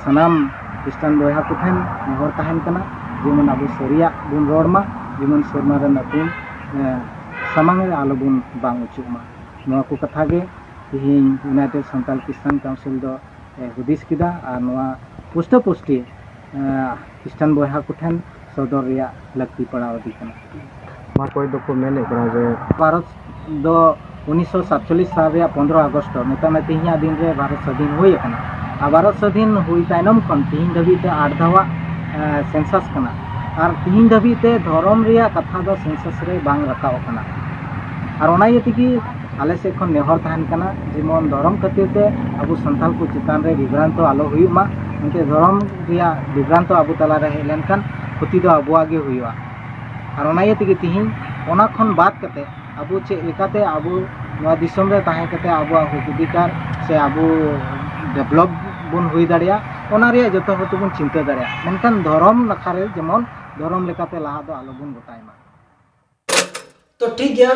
ᱥᱟᱱᱟᱢ ᱠᱷᱨᱤᱥᱴᱟᱱ ᱵᱚᱭᱦᱟ ᱠᱚ ᱴᱷᱮᱱ ᱱᱮᱦᱚᱨ ᱛᱟᱦᱮᱱ ᱠᱟᱱᱟ ᱡᱮᱢᱚᱱ ᱟᱵᱚ ᱥᱟᱹᱨᱤᱭᱟᱜ ᱵᱚᱱ ᱨᱚᱲ ᱢᱟ ᱡᱮᱢᱚᱱ ᱥᱮᱨᱢᱟ ᱨᱮᱱ ᱟᱹᱛᱤᱧ ᱥᱟᱢᱟᱝ ᱨᱮ ᱟᱞᱚ ᱵᱚᱱ ᱵᱟᱝ ᱦᱚᱪᱚᱜ ᱢᱟ ᱱᱚᱣᱟ ᱠᱚ ᱠᱟᱛᱷᱟ ᱜᱮ ᱛᱮᱦᱮᱧ ᱤᱭᱩᱱᱟᱭᱴᱮᱰ ᱥᱟᱱᱛᱟᱞ ᱠᱷᱨᱤᱥᱴᱟᱱ ᱠᱟᱣᱩᱱᱥᱤᱞ ᱫᱚ ᱦᱩᱫᱤᱥ ᱠᱮᱫᱟ ᱟᱨ ᱱᱚᱣᱟ ᱯᱩᱥᱴᱟᱹ ᱯᱩᱥᱴᱤ ᱠᱷᱨᱤᱥᱴᱟᱱ ᱵᱚᱭᱦᱟ ᱠᱚᱴᱷᱮᱱ ᱥᱚᱫᱚᱨ ᱨᱮᱭᱟᱜ ᱞᱟᱹᱠᱛᱤ ᱯᱟᱲᱟᱣ ᱟᱫᱮ ᱠᱟᱱᱟ ᱚᱠᱚᱭ ᱫᱚᱠᱚ ᱢᱮᱱᱮᱫ ᱠᱟᱱᱟ ᱡᱮ ᱵᱷᱟᱨᱚᱛ ᱫᱚ ᱩᱱᱤᱥᱥᱚ ᱥᱟᱛᱪᱚᱞᱞᱤᱥ ᱥᱟᱞ ᱨᱮᱭᱟᱜ ᱯᱚᱱᱨᱚ ᱟᱜᱚᱥᱴ ᱢᱮᱛᱟᱜ ᱢᱮ ᱛᱮᱦᱮᱧᱟᱜ ᱫᱤᱱ ᱨᱮ ᱵᱷᱟᱨᱚᱛ ᱥᱟᱹᱫᱷᱤᱱ ᱦᱩᱭ ᱟᱠᱟᱱᱟ ᱟᱨ ᱵᱷᱟᱨᱚᱛ ᱥᱟᱹᱫᱷᱤᱱ ᱦᱩᱭ ᱛᱟᱭᱱᱚᱢ ᱠᱷᱚᱱ ᱛᱮᱦᱮᱧ ᱫᱷᱟᱹᱵᱤᱡ ᱛᱮ ᱟᱴ ᱫᱷᱟᱣᱟᱜ ᱥᱮᱱᱥᱟᱥ ᱠᱟᱱᱟ ᱟᱨ ᱛᱮᱦᱮᱧ ᱫᱷᱟᱹᱵᱤᱡ ᱛᱮ ᱫᱷᱚᱨᱚᱢ ᱨᱮᱭᱟᱜ ᱠᱟᱛᱷᱟ ᱫᱚ ᱥᱮᱱᱥᱟᱥ ᱨᱮ ᱵᱟᱝ ᱨᱟᱠᱟᱵ ᱟᱠᱟᱱᱟ ᱟᱨ ᱚᱱᱟ ᱤᱭᱟᱹ ᱛᱮᱜᱮ ᱟᱞᱮ ᱥᱮᱫ ᱠᱷᱚᱱ ᱱᱮᱦᱚᱨ ᱛᱟᱦᱮᱱ ᱠᱟᱱᱟ ᱡᱮᱢᱚᱱ ᱫᱷᱚᱨᱚᱢ ᱠᱷᱟᱹᱛᱤᱨ ᱛᱮ ᱟᱵᱚ ᱥᱟᱱᱛᱟᱲ ᱠᱚ ᱪᱮᱛᱟᱱ ᱨᱮ ᱵᱤᱵᱷᱨᱟᱱᱛᱚ ᱟᱞᱚ ᱦᱩᱭᱩᱜ ᱢᱟ ᱢᱤᱫᱴᱮᱡ ᱫᱷᱚᱨᱚᱢ ᱨᱮᱭᱟᱜ ᱵᱤᱵᱷᱨᱟᱱᱛᱚ ᱟᱵᱚ ᱛᱟᱞᱟ ᱨᱮ ᱦᱮᱡ ᱞᱮᱱᱠᱷᱟᱱ ᱠᱷᱚᱛᱤ ᱫᱚ ᱟᱵᱚᱣᱟᱜ ᱜᱮ ᱦᱩᱭᱩᱜᱼᱟ ᱟᱨ ᱚᱱᱟ ᱤᱭᱟᱹ ᱛᱮᱜᱮ ᱛᱤᱦᱤᱧ ᱚᱱᱟ ᱠᱷᱚᱱ ᱵᱟᱫ ᱠᱟᱛᱮ ᱟᱵᱚ ᱪᱮᱫ ᱞᱮᱠᱟᱛᱮ ᱟᱵᱚ ᱱᱚᱣᱟ ᱫᱤᱥᱚᱢ ᱨᱮ ᱛᱟᱦᱮᱸ ᱠᱟᱛᱮ ᱟᱵᱚᱣᱟᱜ ᱦᱚᱸᱠ ᱚᱫᱷᱤᱠᱟᱨ ᱥᱮ ᱟᱵᱚ ᱰᱮᱵᱷᱞᱚᱯ ᱵᱚᱱ ᱦᱩᱭ ᱫᱟᱲᱮᱭᱟᱜ ᱚᱱᱟ ᱨᱮᱭᱟᱜ ᱡᱚᱛᱚ ᱦᱚᱲ ᱛᱮᱵᱚᱱ ᱪᱤᱱᱛᱟᱹ ᱫᱟᱲᱮᱭᱟᱜ ᱢᱮᱱᱠᱷᱟᱱ ᱫᱷᱚᱨᱚᱢ ᱱᱟᱠᱷᱟ ᱨᱮ ᱡᱮᱢᱚᱱ ᱫᱷᱚᱨᱚᱢ ᱞᱮᱠᱟᱛᱮ ᱞᱟᱦᱟ ᱫᱚ ᱟᱞᱚ ᱵᱚᱱ ᱜᱚᱴᱟᱭ ᱢᱟ ᱛᱚ ᱴᱷᱤᱠ ᱜᱮᱭᱟ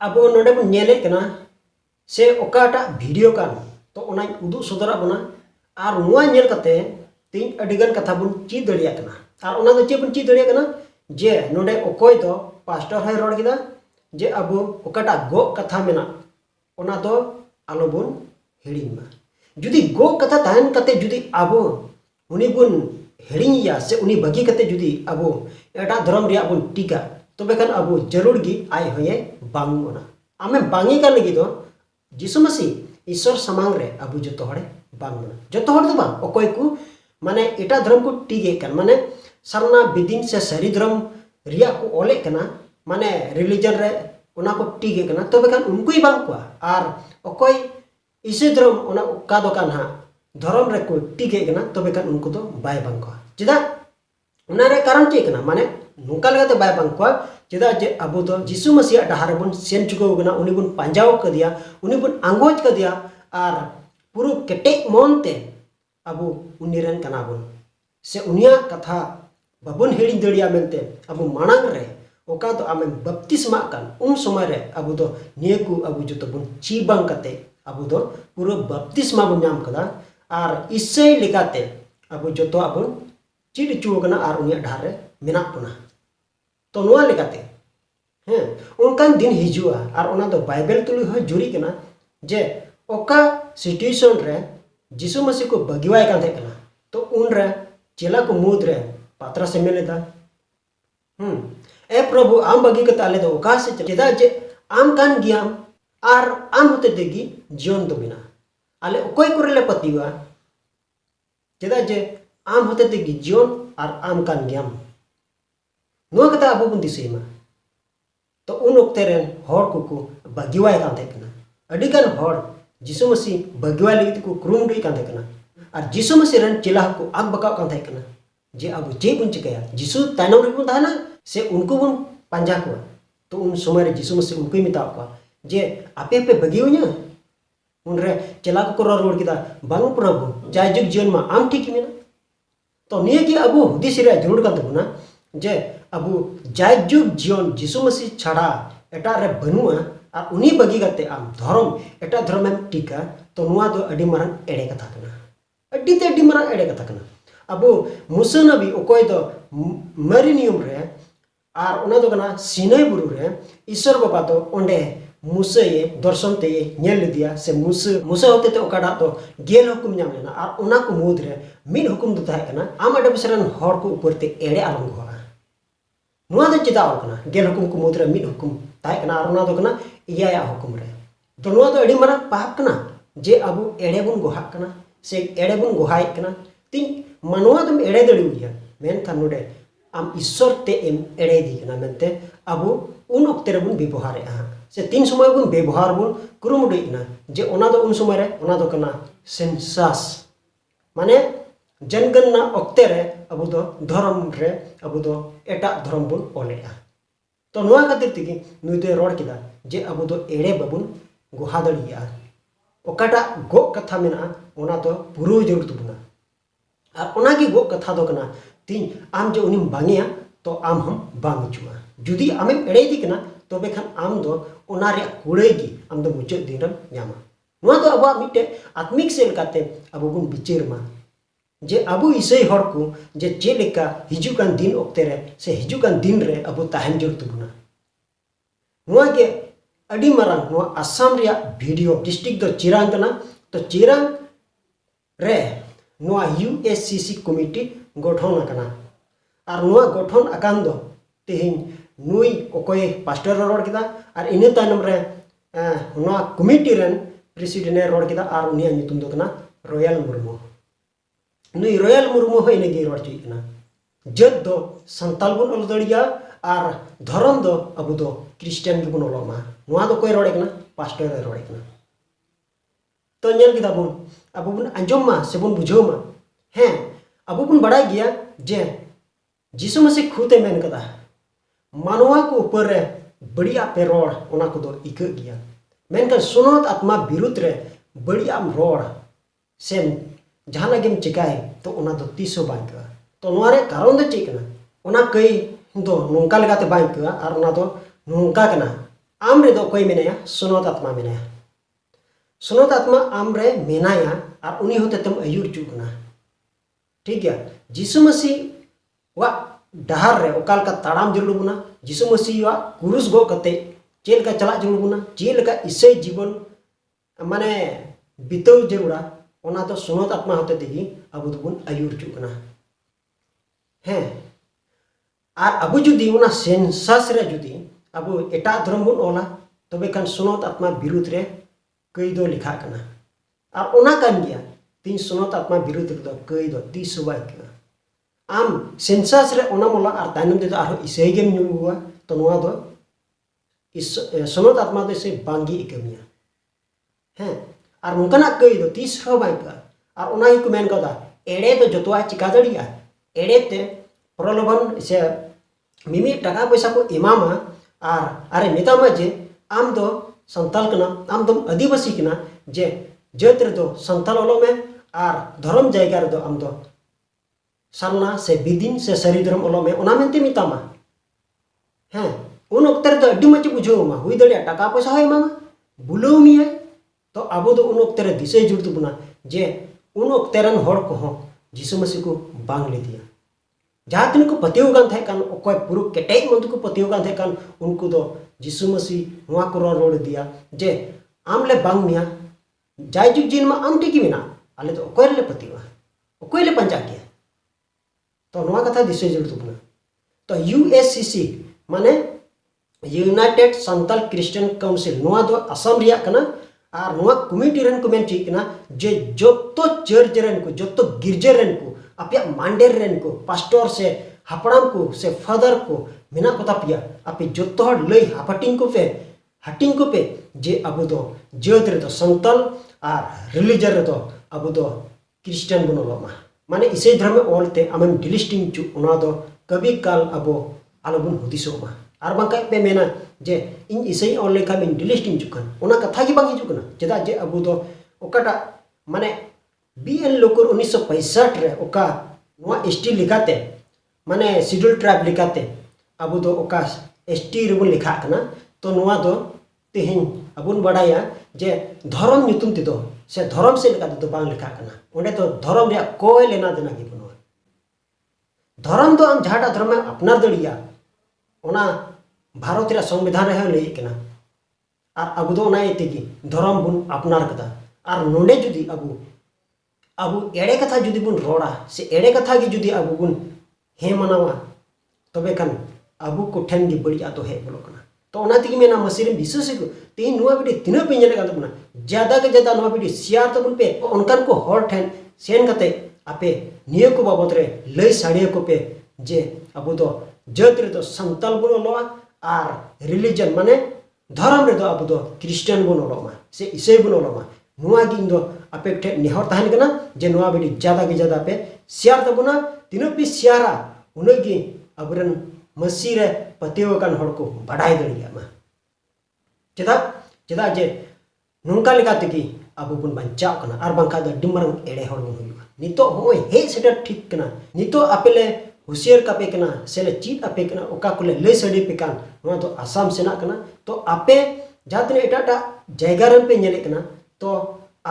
ᱟᱵᱚ ᱱᱚᱰᱮ ᱵᱚᱱ ᱧᱮᱞᱮᱫ ᱠᱟᱱᱟ ᱥᱮ ᱚᱠᱟᱴᱟᱜ ᱵᱷᱤᱰᱤᱭᱳ ᱠᱟᱱ ᱛᱚ ᱚᱱᱟᱧ ᱩᱫᱩᱜ ᱥᱚᱫᱚᱨᱟᱜ ᱵᱚᱱᱟ ᱟᱨ ᱱᱚᱣᱟ ᱧᱮᱞ ᱠᱟᱛᱮ ᱛᱮᱦᱮᱧ ᱟᱹᱰᱤᱜᱟᱱ ᱠᱟᱛᱷᱟ ᱵᱚᱱ ᱪᱮᱫ ᱫᱟᱲᱮᱭᱟᱜ ᱠᱟᱱᱟ ᱟᱨ ᱚᱱᱟ ᱫᱚ ᱪᱮᱫ ᱵᱚᱱ ᱪᱮᱫ ᱫᱟᱲᱮᱭᱟᱜ ᱠᱟᱱᱟ ᱡᱮ ᱱᱚᱰᱮ ᱚᱠᱚᱭ ᱫᱚ ᱯᱟᱥᱴᱚᱨ ᱦᱚᱸᱭ ᱨᱚᱲ ᱠᱮᱫᱟ ᱡᱮ ᱟᱵᱚ ᱚᱠᱟᱴᱟᱜ ᱜᱚᱜ ᱠᱟᱛᱷᱟ ᱢᱮᱱᱟᱜ ᱚᱱᱟ ᱫᱚ ᱟᱞᱚᱵᱚᱱ ᱦᱤᱲᱤᱧ ᱢᱟ ᱡᱩᱫᱤ ᱜᱚᱜ ᱠᱟᱛᱷᱟ ᱛᱟᱦᱮᱱ ᱠᱟᱛᱮ ᱡᱩᱫᱤ ᱟᱵᱚ ᱩᱱᱤ ᱵᱚᱱ ᱦᱤᱲᱤᱧᱮᱭᱟ ᱥᱮ ᱩᱱᱤ ᱵᱟᱹᱜᱤ ᱠᱟᱛᱮ ᱡᱩᱫᱤ ᱟᱵᱚ ᱮᱴᱟᱜ ᱫᱷᱚᱨᱚᱢ ᱨᱮᱭᱟᱜ ᱵᱚᱱ ᱴᱤᱠᱟ ᱛᱚᱵᱮ ᱠᱷᱟᱱ ᱟᱵᱚ ᱡᱟᱹᱨᱩᱲ ᱜᱮ ᱟᱡ ᱦᱚᱸᱭᱮ ᱵᱟᱝ ᱵᱚᱱᱟ ᱟᱢᱮ ᱵᱟᱝᱮ ᱠᱟᱱ ᱞᱟᱹᱜᱤᱫ ᱫᱚ ᱡᱤᱥᱩ ᱢᱟᱹᱥᱤ ᱤᱥᱚᱨ ᱥᱟᱢᱟᱝ ᱨᱮ ᱟᱵᱚ ᱡᱚᱛᱚ ᱦᱚᱲᱮ ᱵᱟᱝ ᱵᱚᱱᱟ ᱡᱚᱛᱚ ᱦᱚᱲ ᱫᱚ ᱵᱟᱝ ᱚᱠᱚᱭ ᱠᱚ ᱢᱟᱱᱮ ᱮᱴᱟᱜ ᱫᱷᱚᱨᱚᱢ ᱠᱚ ᱴᱤᱠᱮᱫ ᱠᱟᱱ ᱢᱟᱱᱮ ᱥᱟᱨᱱᱟ ᱵᱤᱫᱤᱱ ᱥᱮ ᱥᱟᱹᱨᱤ ᱫᱷᱚᱨᱚᱢ ᱨᱮᱭᱟᱜ ᱠᱚ ᱚᱞᱮᱫ ᱠᱟᱱᱟ ᱢᱟᱱᱮ ᱨᱤᱞᱤᱡᱚᱱ ᱨᱮ ᱚᱱᱟ ᱠᱚ ᱴᱤᱠᱮᱫ ᱠᱟᱱᱟ ᱛᱚᱵᱮ ᱠᱷᱟᱱ ᱩᱱᱠᱩᱭ ᱵᱟᱝ ᱠᱚᱣᱟ ᱟᱨ ᱚᱠᱚᱭ ᱤᱥᱟᱹᱭ ᱫᱷᱚᱨᱚᱢ ᱚᱱᱟ ᱚᱠᱟ ᱫᱚ ᱠᱟᱱ ᱦᱟᱸᱜ ᱫᱷᱚᱨᱚᱢ ᱨᱮ ᱠᱚ ᱴᱤᱠᱮ ᱠᱟᱱᱟ ᱛᱚᱵᱮ ᱠᱟᱱ ᱩᱱᱠᱩ ᱫᱚ ᱵᱟᱭ ᱵᱟᱝ ᱠᱚᱣᱟ ᱪᱮᱫᱟᱜ ᱚᱱᱟ ᱨᱮ ᱠᱟᱨᱚᱱ ᱪᱮᱫ ᱠᱟᱱᱟ ᱢᱟᱱᱮ ᱱᱚᱝᱠᱟ ᱞᱮᱠᱟᱛᱮ ᱵᱟᱭ ᱵᱟᱝ ᱠᱚᱣᱟ ᱪᱮᱫᱟᱜ ᱡᱮ ᱟᱵᱚ ᱫᱚ ᱡᱤᱥᱩ ᱢᱟᱹᱥᱤᱭᱟᱜ ᱰᱟᱦᱟᱨ ᱨᱮᱵᱚᱱ ᱥᱮᱱ ᱪᱩᱠᱟᱹᱣ ᱠᱟᱱᱟ ᱩᱱᱤ ᱵᱚᱱ ᱯᱟᱸᱡᱟᱣ ᱠᱟᱫᱮᱭᱟ ᱩᱱᱤ ᱵᱚᱱ ᱟᱸᱜᱚᱪ ᱠᱟᱫᱮᱭᱟ ᱟᱨ ᱯᱩᱨᱟᱹ ᱠᱮᱴᱮᱡ ᱢᱚᱱ ᱛᱮ ᱟᱵᱚ ᱩᱱᱤ ᱨᱮᱱ ᱠᱟᱱᱟ ᱵᱚᱱ ᱥᱮ ᱩᱱᱤᱭᱟᱜ ᱠᱟᱛᱷᱟ ᱵᱟᱵᱚᱱ ᱦᱤᱲᱤᱧ ᱫᱟᱲᱮᱭᱟᱜᱼᱟ ᱢᱮᱱᱛᱮ ᱟᱵᱚ ᱢᱟᱲᱟᱝ ᱨᱮ ᱚᱠᱟ ᱫᱚ ᱟᱢᱮᱢ ᱵᱟᱯᱛᱤᱥᱢᱟᱜ ᱠᱟᱱ ᱩᱱ ᱥᱚᱢᱚᱭ ᱨᱮ ᱟᱵᱚ ᱫᱚ ᱱᱤᱭᱟᱹ ᱠᱚ ᱟᱵᱚ ᱡᱚᱛᱚ ᱵᱚᱱ ᱪᱤ ᱵᱟᱝ ᱠᱟᱛᱮ ᱟᱵᱚ ᱫᱚ ᱯᱩᱨᱟᱹ ᱵᱟᱯᱛᱤᱥᱢᱟ ᱵᱚᱱ ᱧᱟᱢ ᱠᱟᱫᱟ ᱟᱨ ᱤᱥᱟᱹᱭ ᱞᱮᱠᱟᱛᱮ ᱟᱵᱚ ᱡᱚᱛᱚᱣᱟᱜ ᱵᱚᱱ ᱪᱮᱫ ᱦᱚᱪᱚ ᱟᱠᱟᱱᱟ ᱟᱨ ᱩᱱᱤᱭᱟᱜ ᱰᱟᱦᱟᱨ ᱨᱮ ᱢᱮᱱᱟᱜ ᱵᱚᱱᱟ ᱛᱚ ᱱᱚᱣᱟ ᱞᱮᱠᱟᱛᱮ ᱦᱮᱸ ᱚᱱᱠᱟᱱ ᱫᱤᱱ ᱦᱤᱡᱩᱜᱼᱟ ᱟᱨ ᱚᱱᱟ ᱫᱚ ᱵᱟᱭᱵᱮᱞ ᱛᱩᱞᱩᱡ ᱦᱚᱸ ᱡᱩᱨᱤ ᱠᱟᱱᱟ ᱡᱮ ᱚᱠᱟ ᱥᱤᱪᱩᱭᱮᱥᱚᱱ ᱨᱮ ᱡᱤᱥᱩ ᱢᱟᱹᱥᱤ ᱠᱚ ᱵᱟᱹᱜᱤᱣᱟᱭ ᱠᱟᱱ ᱛᱟᱦᱮᱸ ᱠᱟᱱᱟ ᱛᱚ ᱩᱱᱨᱮ ᱪᱮᱞᱟ ᱠᱚ ᱢᱩᱫᱽ ᱨᱮ ᱯᱟᱛᱨᱟᱥᱮ ᱢᱮᱱ ᱞᱮᱫᱟ ᱦᱩᱸ ᱮ ᱯᱨᱚᱵᱷᱩ ᱟᱢ ᱵᱟᱹᱜᱤ ᱠᱟᱛᱮ ᱟᱞᱮ ᱫᱚ ᱚᱠᱟ ᱥᱮ ᱪᱮᱫᱟᱜ ᱡᱮ ᱟᱢ ᱠᱟᱱ ᱜᱮᱭᱟᱢ ᱟᱨ ᱟᱢ ᱦᱚᱛᱮ ᱛᱮᱜᱮ ᱡᱤᱭᱚᱱ ᱫᱚ ᱢᱮᱱᱟᱜᱼᱟ ᱟᱞᱮ ᱚᱠᱚᱭ ᱠᱚᱨᱮ ᱞᱮ ᱯᱟᱹᱛᱭᱟᱹᱣᱟ ᱪᱮᱫᱟᱜ ᱡᱮ ᱟᱢ ᱦᱚᱛᱮ ᱛᱮᱜᱮ ᱡᱤᱭᱚᱱ ᱟᱨ ᱟᱢ ᱠᱟᱱ ᱜᱮᱭᱟᱢ ᱱᱚᱣᱟ ᱠᱟᱛᱷᱟ ᱟᱵᱚ ᱵᱚᱱ ᱫᱤᱥᱟᱹᱭ ᱢᱟ ᱛᱚ ᱩᱱ ᱚᱠᱛᱮ ᱨᱮᱱ ᱦᱚᱲ ᱠᱚᱠᱚ ᱵᱟᱹᱜᱤᱣᱟᱭ ᱠᱟᱱ ᱛᱟᱦᱮᱸ ᱠᱟᱱᱟ ᱟᱹᱰᱤ ᱜᱟᱱ ᱦᱚᱲ ᱡᱤᱥᱩ ᱢᱟᱹᱥᱤ ᱵᱟᱹᱜᱤᱣᱟᱭ ᱞᱟᱹᱜᱤᱫ ᱛᱮᱠᱚ ᱠᱩᱨᱩᱢᱩᱴᱩᱭ ᱠᱟᱱ ᱛᱟᱦᱮᱸ ᱠᱟᱱᱟ ᱟᱨ ᱡᱤᱥᱩ ᱢᱟᱹᱥᱤ ᱨᱮᱱ ᱪᱮᱞᱟ ᱦᱚᱸᱠᱚ ᱟᱜ ᱵᱟᱠᱟᱣ ᱠᱟᱱ ᱛᱟᱦᱮᱸ ᱠᱟᱱᱟ ᱡᱮ ᱟᱵᱚ ᱪᱮᱫ ᱵᱚᱱ ᱪᱤᱠᱟᱹᱭᱟ ᱡᱤᱥᱩ ᱛᱟᱭᱱᱚᱢ ᱨᱮᱵᱚᱱ ᱛᱟᱦᱮᱱᱟ ᱥᱮ ᱩᱱᱠᱩ ᱵᱚᱱ ᱯᱟᱸᱡᱟ ᱠᱚᱣᱟ ᱛᱚ ᱩᱱ ᱥᱚᱢᱚᱭ ᱨᱮ ᱡᱤᱥᱩ ᱢᱟᱹᱥᱤ ᱩᱱᱠᱩᱭ ᱢᱮᱛᱟᱣ ᱠᱚᱣᱟ ᱡᱮ ᱟᱯᱮ ᱯᱮ ᱵᱟᱹᱜᱤᱣᱟᱹᱧᱟ ᱩᱱᱨᱮ ᱪᱮᱞᱟ ᱠᱚᱠᱚ ᱨᱚᱲ ᱨᱩᱣᱟᱹᱲ ᱠᱮᱫᱟ ᱵᱟᱝ ᱯᱨᱚᱵᱷᱩ ᱡᱟᱭᱡᱩᱜᱽ ᱡᱤᱭᱚᱱ ᱢᱟ ᱟᱢ ᱴᱷᱮᱱ ᱜᱮ ᱢᱮᱱᱟᱜᱼᱟ ᱛᱚ ᱱᱤᱭᱟᱹ ᱜᱮ ᱟᱵᱚ ᱦᱩᱫᱤᱥ ᱨᱮᱭᱟᱜ ᱡᱟᱹᱨᱩᱲ ᱠᱟᱱ ᱛᱟᱵᱚᱱᱟ ᱡᱮ ᱟᱵᱚ ᱡᱟᱭᱡᱩᱜᱽ ᱡᱤᱭᱚᱱ ᱡᱤᱥᱩ ᱢᱟᱹᱥᱤ ᱪᱷᱟᱲᱟ ᱮᱴᱟᱜ ᱨᱮ ᱵᱟᱹᱱᱩᱜᱼᱟ ᱟᱨ ᱩᱱᱤ ᱵᱟᱹᱜᱤ ᱠᱟᱛᱮ ᱟᱢ ᱫᱷᱚᱨᱚᱢ ᱮᱴᱟᱜ ᱫᱷᱚᱨᱚᱢᱮᱢ ᱴᱤᱠᱟ ᱛᱚ ᱱᱚᱣᱟ ᱫᱚ ᱟᱹᱰᱤ ᱢᱟᱨᱟᱝ ᱮᱲᱮ ᱠᱟᱛᱷᱟ ᱠᱟᱱᱟ ᱟᱹᱰᱤ ᱛᱮ ᱟᱹᱰᱤ ᱢᱟᱨᱟᱝ ᱮᱲᱮ ᱠᱟᱛᱷᱟ ᱠᱟᱱᱟ ᱟᱵᱚ ᱢᱩᱥᱟᱹ ᱱᱟᱵᱤ ᱚᱠᱚᱭ ᱫᱚ ᱢᱟᱨᱮ ᱱᱤᱭᱚᱢ ᱨᱮ ᱟᱨ ᱚᱱᱟ ᱫᱚ ᱠᱟᱱᱟ ᱥᱤᱱᱟᱹᱭ ᱵᱩᱨᱩ ᱨᱮ ᱤᱥᱚᱨ ᱵᱟᱵᱟ ᱫᱚ ᱚᱸᱰᱮ ᱢᱩᱥᱟᱹᱭᱮ ᱫᱚᱨᱥᱚᱱ ᱛᱮᱭᱮ ᱧᱮᱞ ᱞᱮᱫᱮᱭᱟ ᱥᱮ ᱢᱩᱥᱟᱹ ᱢᱩᱥᱟᱹ ᱦᱚᱛᱮᱛᱮ ᱚᱠᱟᱴᱟᱜ ᱫᱚ ᱜᱮᱞ ᱦᱩᱠᱩᱢ ᱧᱟᱢ ᱞᱮᱱᱟ ᱟᱨ ᱚᱱᱟ ᱠᱚ ᱢᱩᱫᱽ ᱨᱮ ᱢᱤᱫ ᱦᱩᱠᱩᱢ ᱫᱚ ᱛᱟᱦᱮᱸ ᱠᱟᱱᱟ ᱟᱢ ᱟᱰᱮ ᱯᱟᱥᱮ ᱨᱮᱱ ᱦᱚᱲ ᱠᱚ ᱩᱯᱚᱨ ᱛᱮ ᱮᱲᱮ ᱟᱞᱚᱢ ᱜᱚᱦᱚᱲᱟ ᱱᱚᱣᱟ ᱫᱚ ᱪᱮᱫᱟᱜ ᱚᱞ ᱠᱟᱱᱟ ᱜᱮᱞ ᱦᱩᱠᱩᱢ ᱠᱚ ᱢᱩᱫᱽ ᱨᱮ ᱢᱤᱫ ᱦᱩᱠᱩᱢ ᱛᱟᱦᱮᱸ ᱠᱟᱱᱟ ᱟᱨ ᱚᱱᱟ ᱫᱚ ᱠᱟᱱᱟ ᱮᱭᱟᱭᱟᱜ ᱦᱩᱠᱩᱢ ᱨᱮ ᱛᱚ ᱱᱚᱣᱟ ᱫᱚ ᱟᱹᱰᱤ ᱢᱟᱨᱟᱝ ᱯᱟᱯ ᱠᱟᱱᱟ ᱡᱮ ᱟᱵᱚ ᱮᱲᱮ ᱵᱚᱱ ᱜᱚᱦᱟᱜ ᱠᱟᱱᱟ ᱥᱮ ᱮᱲᱮ ᱵᱚᱱ ᱜᱚᱦᱟᱭᱮᱫ ᱠᱟᱱᱟ ᱛᱤᱧ ᱢᱟᱱᱣᱟ ᱫᱚᱢ ᱮᱲᱮ ᱫᱟᱲᱮᱣᱟᱭᱟ ᱢᱮᱱᱠᱷᱟᱱ ᱱᱚᱰᱮ ᱟᱢ ᱤᱥᱥᱚᱨ ᱛᱮ ᱮᱢ ᱮᱲᱮᱭᱮᱫᱮ ᱠᱟᱱᱟ ᱢᱮᱱᱛᱮ ᱟᱵᱚ ᱩᱱ ᱚᱠᱛᱮ ᱨᱮᱵᱚᱱ ᱵᱮᱵᱚᱦᱟᱨᱮᱫᱼᱟ ᱦᱟᱸᱜ ᱥᱮ ᱛᱤᱱ ᱥᱚᱢᱚᱭ ᱵᱚᱱ ᱵᱮᱵᱚᱦᱟᱨ ᱵᱚᱱ ᱠᱩᱨᱩᱢᱩᱴᱩᱭᱮᱫ ᱠᱟᱱᱟ ᱡᱮ ᱚᱱᱟ ᱫᱚ ᱩᱱ ᱥᱚᱢᱚᱭ ᱨᱮ ᱚᱱᱟ ᱫᱚ ᱠᱟᱱᱟ ᱥᱮᱱᱥᱟᱥ ᱢᱟᱱᱮ ᱡᱚᱱᱜᱚᱱᱱᱟ ᱚᱠᱛᱮ ᱨᱮ ᱟᱵᱚ ᱫᱚ ᱫᱷᱚᱨᱚᱢ ᱨᱮ ᱟᱵᱚ ᱫᱚ ᱮᱴᱟᱜ ᱫᱷᱚᱨᱚᱢ ᱵᱚᱱ ᱚᱞᱮᱫᱼᱟ ᱛᱚ ᱱᱚᱣᱟ ᱠᱷᱟᱹᱛᱤᱨ ᱛᱮᱜᱮ ᱱᱩᱭ ᱫᱚᱭ ᱨᱚᱲ ᱠᱮᱫᱟ ᱡᱮ ᱟᱵᱚ ᱫᱚ ᱮᱲᱮ ᱵᱟᱵᱚᱱ ᱜᱚᱦᱟ ᱫᱟᱲᱮᱭᱟᱜᱼᱟ ᱚᱠᱟᱴᱟᱜ ᱜᱚᱜ ᱠᱟᱛᱷᱟ ᱢᱮᱱᱟᱜᱼᱟ ᱚᱱᱟ ᱫᱚ ᱯᱩᱨᱟᱹᱣ ᱡᱟᱹᱨᱩᱲ ᱛᱟᱵᱚᱱᱟ ᱟᱨ ᱚᱱᱟᱜᱮ ᱜᱚᱜ ᱠᱟᱛᱷᱟ ᱫᱚ ᱠᱟᱱᱟ ᱛᱤᱧ ᱟᱢ ᱡᱮ ᱩᱱᱤᱢ ᱵᱟᱝᱮᱭᱟ ᱛᱚ ᱟᱢ ᱦᱚᱸ ᱵᱟᱝ ᱦᱤᱡᱩᱜᱼᱟ ᱡᱩᱫᱤ ᱟᱢᱮᱢ ᱮᱲᱮᱭᱮᱫᱮ ᱠᱟᱱᱟ ᱛᱚᱵᱮ ᱠᱷᱟᱱ ᱟᱢ ᱫᱚ ᱚᱱᱟ ᱨᱮᱭᱟᱜ ᱠᱩᱲᱟᱹᱭ ᱜᱮ ᱟᱢ ᱫᱚ ᱢᱩᱪᱟᱹᱫ ᱫᱤᱱ ᱨᱮᱢ ᱧᱟᱢᱟ ᱱᱚᱣᱟ ᱫᱚ ᱟᱵᱚᱣᱟᱜ ᱢᱤᱫᱴᱮᱡ ᱟᱛᱢᱤᱠ ᱥᱮᱫ ᱞᱮᱠᱟᱛᱮ ᱟᱵᱚ ᱵᱚᱱ ᱵᱤᱪᱟᱹᱨ ᱢᱟ ᱡᱮ ᱟᱵᱚ ᱤᱥᱟᱹᱭ ᱦᱚᱲ ᱠᱚ ᱡᱮ ᱪᱮᱫ ᱞᱮᱠᱟ ᱦᱤᱡᱩᱜ ᱠᱟᱱ ᱫᱤᱱ ᱚᱠᱛᱮ ᱨᱮ ᱥᱮ ᱦᱤᱡᱩᱜ ᱠᱟᱱ ᱫᱤᱱ ᱨᱮ ᱟᱵᱚ ᱛᱟᱦᱮᱱ ᱡᱟᱹᱨᱩᱲ ᱛᱟᱵᱚᱱᱟ ᱱᱚᱣᱟ ᱜᱮ ᱟᱹᱰᱤ ᱢᱟᱨᱟᱝ ᱱᱚᱣᱟ ᱟᱥᱟᱢ ᱨᱮᱭᱟᱜ ᱵᱷᱤᱰᱤᱭᱳ ᱰᱤᱥᱴᱨᱤᱠᱴ ᱫᱚ ᱪᱤᱨᱟᱝ ᱠᱟᱱᱟ ᱛᱚ ᱪᱤᱨᱟᱝ ᱨᱮ ᱱᱚᱣᱟ U S C C committee ᱜᱚᱴᱷᱚᱱ ᱟᱠᱟᱱᱟ ᱟᱨ ᱱᱚᱣᱟ ᱜᱚᱴᱷᱚᱱ ᱟᱠᱟᱱ ᱫᱚ ᱛᱮᱦᱮᱧ ᱱᱩᱭ ᱚᱠᱚᱭ ᱯᱟᱥᱴᱚᱨ ᱮ ᱨᱚᱲ ᱠᱮᱫᱟ ᱟᱨ ᱤᱱᱟᱹ ᱛᱟᱭᱱᱚᱢ ᱨᱮ ᱱᱚᱣᱟ ᱠᱚᱢᱤᱴᱤ ᱨᱮᱱ ᱯᱨᱮᱥᱤᱰᱮᱱᱴ ᱮ ᱨᱚᱲ ᱠᱮᱫᱟ ᱟᱨ ᱩᱱᱤᱭᱟᱜ ᱧᱩᱛᱩᱢ ᱫᱚ ᱠᱟᱱᱟ ᱨᱚᱭᱟᱞ ᱢᱩᱨᱢᱩ ᱱᱩᱭ ᱨᱚᱭᱟᱞ ᱢᱩᱨᱢᱩ ᱦᱚᱸ ᱤᱱᱟᱹᱜᱮ ᱨᱚᱲ ᱦᱚᱪᱚᱭᱮᱫ ᱠᱟᱱᱟ ᱡᱟᱹᱛ ᱫᱚ ᱥᱟᱱᱛᱟᱞ ᱵᱚᱱ ᱚᱞ ᱫᱟᱲᱮᱭᱟᱜᱼᱟ ᱟᱨ ᱫᱷᱚᱨᱚᱢ ᱫᱚ ᱟᱵᱚ ᱫᱚ ᱠᱨᱤᱥᱴᱤᱭᱟᱱ ᱜᱮᱵᱚᱱ ᱚᱞᱚᱜ ᱢᱟ ᱱᱚᱣᱟ ᱫᱚ ᱚᱠᱚᱭ ᱨᱚᱲᱮ ᱠᱟᱱᱟ ᱯᱟᱥᱴᱚᱨ ᱮ ᱨᱚᱲᱮ ᱠᱟᱱᱟ ᱛᱚ ᱧᱮᱞ ᱠᱮᱫᱟ ᱵᱚᱱ ᱟᱵᱚ ᱵᱚᱱ ᱟᱸᱡᱚᱢ ᱢᱟ ᱥᱮᱵᱚᱱ ᱵᱩᱡᱷᱟᱹᱣ ᱢᱟ ᱦᱮᱸ ᱟᱵᱚ ᱵᱚᱱ ᱵᱟᱲᱟᱭ ᱜᱮᱭᱟ ᱡᱮ ᱡᱤᱥᱩ ᱢᱟᱹᱥᱤ ᱠᱷᱩᱫ ᱮ ᱢᱮᱱ ᱠᱟᱫᱟ ᱢᱟᱱᱣᱟ ᱠᱚ ᱩᱯᱚᱨ ᱨᱮ ᱵᱟᱹᱲᱤᱡᱟᱜ ᱯᱮ ᱨᱚᱲ ᱚᱱᱟ ᱠᱚᱫᱚ ᱤᱠᱟᱹᱜ ᱜᱮᱭᱟ ᱢᱮᱱᱠᱷᱟᱱ ᱥᱩᱱᱚᱛ ᱟᱛᱢᱟ ᱵᱤᱨᱩᱫᱽ ᱨᱮ ᱵᱟᱹᱲᱤᱡᱟᱜ ᱮᱢ ᱨᱚᱲ ᱥᱮ ᱡᱟᱦᱟᱱᱟᱜ ᱜᱮᱢ ᱪᱤᱠᱟᱭ ᱛᱚ ᱚᱱᱟ ᱫᱚ ᱛᱤᱥ ᱦᱚᱸ ᱵᱟᱝ ᱤᱠᱟᱹᱜᱼᱟ ᱛᱚ ᱱᱚᱣᱟ ᱨᱮ ᱠᱟᱨᱚᱱ ᱫᱚ ᱪᱮᱫ ᱠᱟᱱᱟ ᱚᱱᱟ ᱠᱟᱹᱭ ᱫᱚ ᱱᱚᱝᱠᱟ ᱞᱮᱠᱟᱛᱮ ᱵᱟᱝ ᱤᱠᱟᱹᱜᱼᱟ ᱟᱨ ᱚᱱᱟ ᱫᱚ ᱱᱚᱝᱠᱟ ᱠᱟᱱᱟ ᱟᱢ ᱨᱮᱫᱚ ᱚᱠᱚᱭ ᱢᱮᱱᱟᱭᱟ ᱥᱩᱱᱚᱛ ᱟᱛᱢᱟ ᱢᱮᱱᱟᱭᱟ ᱥᱩᱱᱚᱛ ᱟᱛᱢᱟ ᱟᱢ ᱨᱮ ᱢᱮᱱᱟᱭᱟ ᱟᱨ ᱩᱱᱤ ᱦᱚᱛᱮ ᱛᱮᱢ ᱟᱹᱭᱩᱨ ᱪᱩᱜ ᱠᱟᱱᱟ ᱴᱷᱤᱠ ᱜᱮᱭᱟ ᱡᱤᱥᱩ ᱢᱟᱹᱥᱤ ᱣᱟ ᱰᱟᱦᱟᱨ ᱨᱮ ᱚᱠᱟ ᱞᱮᱠᱟ ᱛᱟᱲᱟᱢ ᱡᱟᱹᱨᱩᱲ ᱵᱚᱱᱟ ᱡᱤᱥᱩ ᱢᱟᱹᱥᱤ ᱣᱟ ᱠᱩᱨᱩᱥ ᱜᱚᱜ ᱠᱟᱛᱮ ᱪᱮᱫ ᱞᱮᱠᱟ ᱪᱟᱞᱟᱜ ᱡᱟᱹᱨᱩᱲ ᱵᱚᱱᱟ ᱪᱮᱫ ᱞᱮᱠᱟ ᱤᱥᱟᱹᱭ ᱡᱤᱵᱚᱱ ᱢᱟᱱᱮ ᱵᱤᱛᱟᱹᱣ ᱡᱟᱹᱨᱩᱲᱟ ᱚᱱᱟ ᱫᱚ ᱥᱩᱱᱚᱛ ᱟᱛᱢᱟ ᱦᱚᱛᱮ ᱛᱮᱜᱮ ᱟᱵᱚ ᱫᱚᱵᱚᱱ ᱟᱹᱭᱩᱨ ᱪᱩᱜ ᱠᱟᱱᱟ ᱦᱮᱸ ᱟᱨ ᱟᱵᱚ ᱡᱩᱫᱤ ᱚᱱᱟ ᱥᱮᱱᱥᱟᱥ ᱨᱮ ᱡᱩᱫᱤ ᱟᱵᱚ ᱮᱴᱟᱜ ᱫᱷᱚᱨᱚᱢ ᱵᱚᱱ ᱚᱞᱟ ᱛᱚᱵᱮ ᱠᱷᱟᱱ ᱥᱚᱱᱚᱛ ᱟᱛᱢᱟ ᱵᱤᱨᱩᱫᱷ ᱨᱮ ᱠᱟᱹᱭ ᱫᱚ ᱞᱮᱠᱷᱟᱜ ᱠᱟᱱᱟ ᱟᱨ ᱚᱱᱟ ᱠᱟᱱ ᱜᱮᱭᱟ ᱛᱤᱧ ᱥᱚᱱᱚᱛ ᱟᱛᱢᱟ ᱵᱤᱨᱩᱫᱷ ᱨᱮᱫᱚ ᱠᱟᱹᱭ ᱫᱚ ᱛᱤᱥ ᱦᱚᱸ ᱵᱟᱭ ᱟᱹᱭᱠᱟᱹᱜᱼᱟ ᱟᱢ ᱥᱮᱱᱥᱟᱥ ᱨᱮ ᱚᱱᱟᱢ ᱚᱞᱟ ᱟᱨ ᱛᱟᱭᱱᱚᱢ ᱛᱮᱫᱚ ᱟᱨᱦᱚᱸ ᱤᱥᱟᱹᱭ ᱜᱮᱢ ᱧᱩᱢ ᱟᱹᱜᱩᱣᱟ ᱛᱚ ᱱᱚᱣᱟ ᱫᱚ ᱥᱚᱱᱚᱛ ᱟᱛᱢᱟ ᱫᱚ ᱥᱮ ᱵᱟᱝᱜᱮ ᱟᱹᱭᱠᱟᱹᱣ ᱢᱮᱭᱟ ᱦᱮᱸ ᱟᱨ ᱱᱚᱝᱠᱟᱱᱟᱜ ᱠᱟᱹᱭ ᱫᱚ ᱛᱤᱥ ᱨᱮᱦᱚᱸ ᱵᱟᱭ ᱟᱹᱭᱠᱟᱹᱜᱼᱟ ᱟᱨ ᱚᱱᱟ ᱜᱮᱠᱚ ᱢᱮᱱ ᱠᱟᱫᱟ ᱮᱲᱮ ᱫᱚ ᱡᱚᱛᱚᱣᱟᱜ ᱪᱤᱠᱟ ᱫᱟᱲᱮᱭᱟᱜᱼᱟ ᱮᱲᱮ ᱛᱮ ᱯᱨᱚᱞᱚᱵᱷᱚᱱ ᱥᱮ ᱢᱤᱢᱤᱫ ᱴᱟᱠᱟ ᱯᱚᱭᱥᱟ ᱠᱚ ᱮᱢᱟᱢᱟ ᱟᱨ ᱟᱨᱮ ᱢᱮᱛᱟᱢᱟ ᱡᱮ ᱟᱢ ᱫᱚ ᱥᱟᱱᱛᱟᱞ ᱠᱟᱱᱟᱢ ᱟᱢ ᱫᱚᱢ ᱟᱹᱫᱤᱵᱟᱹᱥᱤ ᱠᱟᱱᱟ ᱡᱮ ᱡᱟᱹᱛ ᱨᱮᱫᱚ ᱥᱟᱱᱛᱟᱞ ᱚᱞᱚᱜ ᱢᱮ ᱟᱨ ᱫᱷᱚᱨᱚᱢ ᱡᱟᱭᱜᱟ ᱨᱮᱫᱚ ᱟᱢ ᱫᱚ ᱥᱟᱨᱱᱟ ᱥᱮ ᱵᱤᱫᱤᱱ ᱥᱮ ᱥᱟᱹᱨᱤ ᱫᱷᱚᱨᱚᱢ ᱚᱞᱚᱜ ᱢᱮ ᱚᱱᱟ ᱢᱮᱱᱛᱮ ᱢᱮᱛᱟᱢᱟ ᱦᱮᱸ ᱩᱱ ᱚᱠᱛᱮ ᱨᱮᱫᱚ ᱟᱹᱰᱤ ᱢᱚᱡᱽ ᱵᱩᱡᱷᱟᱹᱣ ᱟᱢᱟ ᱦᱩᱭ ᱫᱟᱲᱮᱭᱟᱜᱼᱟ ᱴᱟᱠᱟ ᱯᱚᱭᱥᱟ ᱦᱚᱸ ᱮᱢᱟᱢᱟ ᱵᱩᱞᱟᱹᱣ ᱢᱮᱭᱟᱭ ᱛᱚ ᱟᱵᱚ ᱫᱚ ᱩᱱ ᱚᱠᱛᱮ ᱨᱮ ᱫᱤᱥᱟᱹᱭ ᱡᱩᱲ ᱛᱟᱵᱚᱱᱟ ᱡᱮ ᱩᱱ ᱚᱠᱛᱮ ᱨᱮᱱ ᱦᱚᱲ ᱠᱚᱦᱚᱸ ᱡᱤᱥᱩ ᱢᱟᱹᱥᱤ ᱠᱚ ᱵᱟᱝ ᱞᱮᱫᱮᱭᱟ ᱡᱟᱦᱟᱸ ᱛᱤᱱᱟᱹᱜ ᱠᱚ ᱯᱟᱹᱛᱭᱟᱹᱣ ᱠᱟᱱ ᱛᱟᱦᱮᱸ ᱠᱟᱱ ᱚᱠᱚᱭ ᱯᱩᱨᱟᱹ ᱠᱮᱴᱮᱡ ᱢᱚᱱ ᱛᱮᱠᱚ ᱯᱟᱹᱛᱭᱟᱹᱣ ᱠᱟᱱ ᱛᱟᱦᱮᱸ ᱠᱟᱱ ᱩᱱᱠᱩ ᱫᱚ ᱡᱤᱥᱩ ᱢᱟᱹᱥᱤ ᱱᱚᱣᱟ ᱠᱚ ᱨᱚᱲ ᱨᱚᱲ ᱤᱫᱤᱭᱟ ᱡᱮ ᱟᱢ ᱞᱮ ᱵᱟᱝ ᱢᱮᱭᱟ ᱡᱟᱭ ᱡᱩᱜᱽ ᱡᱤᱭᱚᱱ ᱢᱟ ᱟᱢ ᱴᱷᱮᱱ ᱜᱮ ᱢᱮᱱᱟᱜᱼᱟ ᱟᱞᱮ ᱫᱚ ᱚᱠᱚᱭ ᱨᱮᱞᱮ ᱯᱟᱹᱛᱭᱟᱹᱜᱼᱟ ᱚᱠᱚᱭ ᱞᱮ ᱯᱟᱸᱡᱟ ᱠᱮᱭᱟ ᱛᱚ ᱱᱚᱣᱟ ᱠᱟᱛᱷᱟ ᱫᱤᱥᱟᱹ ᱡᱟᱹᱨᱩᱲ ᱛᱟᱵᱚᱱᱟ ᱛᱚ ᱭᱩ ᱮᱥ ᱥᱤ ᱥᱤ ᱢᱟᱱᱮ ᱭᱩᱱᱟᱭᱴᱮᱰ ᱥᱟᱱᱛᱟᱞ ᱠᱨᱤᱥᱪᱤᱭᱟᱱ ᱠᱟᱣᱩᱱᱥᱤᱞ ᱱᱚᱣᱟ ᱫᱚ ᱟᱥᱟᱢ ᱨᱮᱭᱟᱜ ᱠᱟᱱᱟ ᱟᱨ ᱱᱚᱣᱟ ᱠᱚᱢᱤᱴᱤ ᱨᱮᱱ ᱠᱚ ᱢᱮᱱ ᱪᱮᱫ ᱠᱟᱱᱟ ᱡᱮ ᱡᱚᱛᱚ ᱪᱟᱨᱪ ᱨᱮᱱ ᱠᱚ ᱡᱚᱛᱚ ᱜᱤᱨᱡᱟᱹ ᱨᱮᱱ ᱠᱚ ᱟᱯᱮᱭᱟᱜ ᱢᱟᱱᱰᱮᱨ ᱨᱮᱱ ᱠᱚ ᱯᱟᱥᱴᱚᱨ ᱥᱮ ᱦᱟᱯᱲᱟᱢ ᱠᱚ ᱥᱮ ᱯᱷᱟᱫᱟᱨ ᱠᱚ ᱢᱮᱱᱟᱜ ᱠᱚᱛᱟ ᱯᱮᱭᱟ ᱟᱯᱮ ᱡᱚᱛᱚ ᱦᱚᱲ ᱞᱟᱹᱭ ᱦᱟᱯᱟᱴᱤᱧ ᱠᱚᱯᱮ ᱦᱟᱹᱴᱤᱧ ᱠᱚᱯᱮ ᱡᱮ ᱟᱵᱚ ᱫᱚ ᱡᱟᱹᱛ ᱨᱮᱫᱚ ᱥᱟᱱᱛᱟᱞ ᱟᱨ ᱨᱤᱞᱤᱡᱚᱱ ᱨᱮᱫᱚ ᱟᱵᱚ ᱫᱚ ᱠᱨᱤᱥᱴᱟᱱ ᱵᱚᱱ ᱚᱞᱚᱜ ᱢᱟ ᱢᱟᱱᱮ ᱤᱥᱟᱹᱭ ᱫᱷᱚᱨᱚᱢᱮ ᱚᱞ ᱛᱮ ᱟᱢᱮᱢ ᱰᱤᱞᱤᱥᱴᱤᱝ ᱦᱚᱪᱚ ᱚᱱᱟ ᱫᱚ ᱠᱟᱹᱵᱷᱤ ᱠᱟᱞ ᱟᱵᱚ ᱟᱞᱚᱵᱚᱱ ᱦᱩᱫᱤᱥᱚᱜ ᱢᱟ ᱟᱨ ᱵᱟᱝᱠᱷᱟᱡ ᱯᱮ ᱢᱮᱱᱟ ᱡᱮ ᱤᱧ ᱤᱥᱟᱹᱭ ᱚᱞ ᱞᱮᱠᱷᱟᱡ ᱢᱟᱧ ᱰᱤᱞᱤᱥᱴᱤᱝ ᱦᱚᱪᱚᱜ ᱠᱟᱱ ᱚᱱᱟ ᱠᱟᱛᱷᱟ ᱜᱮ ᱵᱟᱝ ᱦᱤᱡᱩᱜ ᱠᱟᱱᱟ ᱪᱮᱫᱟᱜ ᱡᱮ ᱟᱵᱚ ᱫᱚ ᱚᱠᱟᱴᱟᱜ ᱢᱟᱱᱮ ᱵᱤ ᱮᱞ ᱞᱳᱠᱚᱨ ᱩᱱᱤᱥᱥᱚ ᱯᱚᱸᱭᱥᱟᱴ ᱨᱮ ᱚᱠᱟ ᱱᱚᱣᱟ ᱮᱥ ᱴᱤ ᱞᱮᱠᱟᱛᱮ ᱢᱟᱱᱮ ᱥᱤᱰᱩᱞ ᱴᱨᱟᱭᱤᱵᱽ ᱞᱮᱠᱟᱛᱮ ᱟᱵᱚ ᱫᱚ ᱚᱠᱟ ᱮᱥ ᱴᱤ ᱨᱮᱵᱚᱱ ᱞᱮᱠᱷᱟᱜ ᱠᱟᱱᱟ ᱛᱚ ᱱᱚᱣᱟ ᱫᱚ ᱛᱮᱦᱮᱧ ᱟᱵᱚ ᱵᱚᱱ ᱵᱟᱲᱟᱭᱟ ᱡᱮ ᱫᱷᱚᱨᱚᱢ ᱧᱩᱛᱩᱢ ᱛᱮᱫᱚ ᱥᱮ ᱫᱷᱚᱨᱚᱢ ᱥᱮᱫ ᱞᱮᱠᱟ ᱛᱮᱫᱚ ᱵᱟᱝ ᱞᱮᱠᱷᱟᱜ ᱠᱟᱱᱟ ᱚᱸᱰᱮ ᱫᱚ ᱫᱷᱚᱨᱚᱢ ᱨᱮᱭᱟᱜ ᱠᱚᱭ ᱞᱮᱱᱟ ᱫᱮᱱᱟ ᱜᱮ ᱵᱟᱹᱱᱩᱜᱼᱟ ᱫᱷᱚᱨᱚᱢ ᱫᱚ ᱟᱢ ᱡᱟᱦᱟᱸᱴᱟᱜ ᱫᱷᱚᱨᱚᱢᱮᱢ ᱟᱯᱱᱟᱨ ᱫᱟᱲᱮᱭᱟᱜᱼᱟ ᱚᱱᱟ ᱵᱷᱟᱨᱚᱛ ᱨᱮᱭᱟᱜ ᱥᱚᱝᱵᱤᱫᱷᱟᱱ ᱨᱮᱦᱚᱸ ᱞᱟᱹᱭᱮᱫ ᱠᱟᱱᱟ ᱟᱨ ᱟᱵᱚ ᱫᱚ ᱚᱱᱟ ᱤᱭᱟᱹ ᱛᱮᱜᱮ ᱫᱷᱚᱨᱚᱢ ᱵᱚᱱ ᱟᱯᱱᱟᱨ ᱠᱮᱫᱟ ᱟᱨ ᱱᱚᱰᱮ ᱡᱩᱫᱤ ᱟᱵᱚ ᱟᱵᱚ ᱮᱲᱮ ᱠᱟᱛᱷᱟ ᱡᱩᱫᱤ ᱵᱚᱱ ᱨᱚᱲᱟ ᱥᱮ ᱮᱲᱮ ᱠᱟᱛᱷᱟ ᱜᱮ ᱡᱩᱫᱤ ᱟᱵᱚ ᱵᱚᱱ ᱦᱮᱸ ᱢᱟᱱᱟᱣᱟ ᱛᱚᱵᱮ ᱠᱷᱟᱱ ᱟᱵᱚ ᱠᱚᱴᱷᱮᱱ ᱜᱮ ᱵᱟᱹᱲᱤᱡ ᱟᱫᱚ ᱦᱮᱡ ᱵᱚᱞᱚᱜ ᱠᱟᱱᱟ ᱛᱚ ᱚᱱᱟ ᱛᱮᱜᱮ ᱢᱮᱱᱟ ᱢᱟᱹᱥᱤ ᱨᱮᱱ ᱵᱤᱥᱮᱥ ᱠᱚ ᱛᱮᱦᱮᱧ ᱱᱚᱣᱟ ᱵᱷᱤᱰᱤᱭᱳ ᱛᱤᱱᱟᱹᱜ ᱯᱮ ᱧᱮᱞᱮᱫ ᱠᱟᱱ ᱛᱟᱵᱚᱱᱟ ᱡᱟᱫᱟ ᱜᱮ ᱡᱟᱫᱟ ᱱᱚᱣᱟ ᱵᱷᱤᱰᱤᱭᱳ ᱥᱮᱭᱟᱨ ᱛᱟᱵᱚᱱ ᱯᱮ ᱚᱱᱠᱟᱱ ᱠᱚ ᱦᱚᱲ ᱴᱷᱮᱱ ᱥᱮᱱ ᱠᱟᱛᱮ ᱟᱯᱮ ᱱᱤᱭᱟᱹ ᱠᱚ ᱵᱟᱵᱚᱫ ᱨᱮ ᱞᱟᱹᱭ ᱥᱟᱰᱮᱭᱟᱠᱚ ᱯᱮ ᱡᱮ ᱟᱵᱚ ᱫᱚ ᱡᱟᱹᱛ ᱨᱮᱫᱚ ᱥᱟᱱᱛᱟᱞ ᱵᱚᱱ ᱚᱞᱚᱜᱼᱟ ᱟᱨ ᱨᱤᱞᱤᱡᱚᱱ ᱢᱟᱱᱮ ᱫᱷᱚᱨᱚᱢ ᱨᱮᱫᱚ ᱟᱵᱚ ᱫᱚ ᱠᱨᱤᱥᱴᱤᱭᱟᱱ ᱵᱚᱱ ᱚᱞᱚᱜ ᱢᱟ ᱥᱮ ᱤᱥᱟᱹᱭ ᱵᱚᱱ ᱚᱞᱚᱜ ᱢᱟ ᱱᱚᱣᱟ ᱜᱮ ᱤᱧ ᱫᱚ ᱟᱯᱮ ᱴᱷᱮᱱ ᱱᱮᱦᱚᱨ ᱛᱟᱦᱮᱱ ᱠᱟᱱᱟ ᱡᱮ ᱱᱚᱣᱟ ᱵᱷᱤᱰᱤ ᱡᱟᱫᱟ ᱜᱮ ᱡᱟᱫᱟ ᱯᱮ ᱥᱮᱭᱟᱨ ᱛᱟᱵᱚᱱᱟ ᱛᱤᱱᱟᱹᱜ ᱯᱮ ᱥᱮᱭᱟᱨᱟ ᱩᱱᱟᱹᱜ ᱜᱮ ᱟᱵᱚᱨᱮᱱ ᱢᱟᱹᱥᱤ ᱨᱮ ᱯᱟᱹᱛᱭᱟᱹᱣ ᱟᱠᱟᱱ ᱦᱚᱲ ᱠᱚ ᱵᱟᱰᱟᱭ ᱫᱟᱲᱮᱭᱟᱜ ᱢᱟ ᱪᱮᱫᱟᱜ ᱪᱮᱫᱟᱜ ᱡᱮ ᱱᱚᱝᱠᱟ ᱞᱮᱠᱟ ᱛᱮᱜᱮ ᱟᱵᱚ ᱵᱚᱱ ᱵᱟᱧᱪᱟᱣ ᱠᱟᱱᱟ ᱟᱨ ᱵᱟᱝᱠᱷᱟᱱ ᱫᱚ ᱟᱹᱰᱤ ᱢᱟᱨᱟᱝ ᱮᱲᱮ ᱦᱚᱲ ᱵᱚᱱ ᱦᱩᱭᱩᱜᱼᱟ ᱱᱤᱛᱚᱜ ᱦᱚᱸᱜᱼᱚᱭ ᱦᱮᱡ ᱥᱮᱴᱮᱨ ᱴᱷᱤᱠ ᱠᱟᱱᱟ ᱱᱤᱛᱚᱜ ᱟᱯᱮ ᱞᱮ ᱦᱩᱥᱤᱭᱟᱹᱨ ᱠᱟᱯᱮ ᱠᱟᱱᱟ ᱥᱮ ᱞᱮ ᱪᱮᱫ ᱟᱯᱮ ᱠᱟᱱᱟ ᱚᱠᱟ ᱠᱚᱞᱮ ᱞᱟᱹᱭ ᱥᱟᱰᱮ ᱯᱮ ᱠᱟᱱ ᱱᱚᱣᱟ ᱫᱚ ᱟᱥᱟᱢ ᱥᱮᱱᱟᱜ ᱠᱟᱱᱟ ᱛᱚ ᱟᱯᱮ ᱡᱟᱦᱟᱸ ᱛᱤᱱᱟᱹᱜ ᱮᱴᱟᱜ ᱮᱴᱟᱜ ᱡᱟᱭᱜᱟ ᱨᱮ ᱯᱮ ᱧᱮᱞᱮᱫ ᱠᱟᱱᱟ ᱛᱚ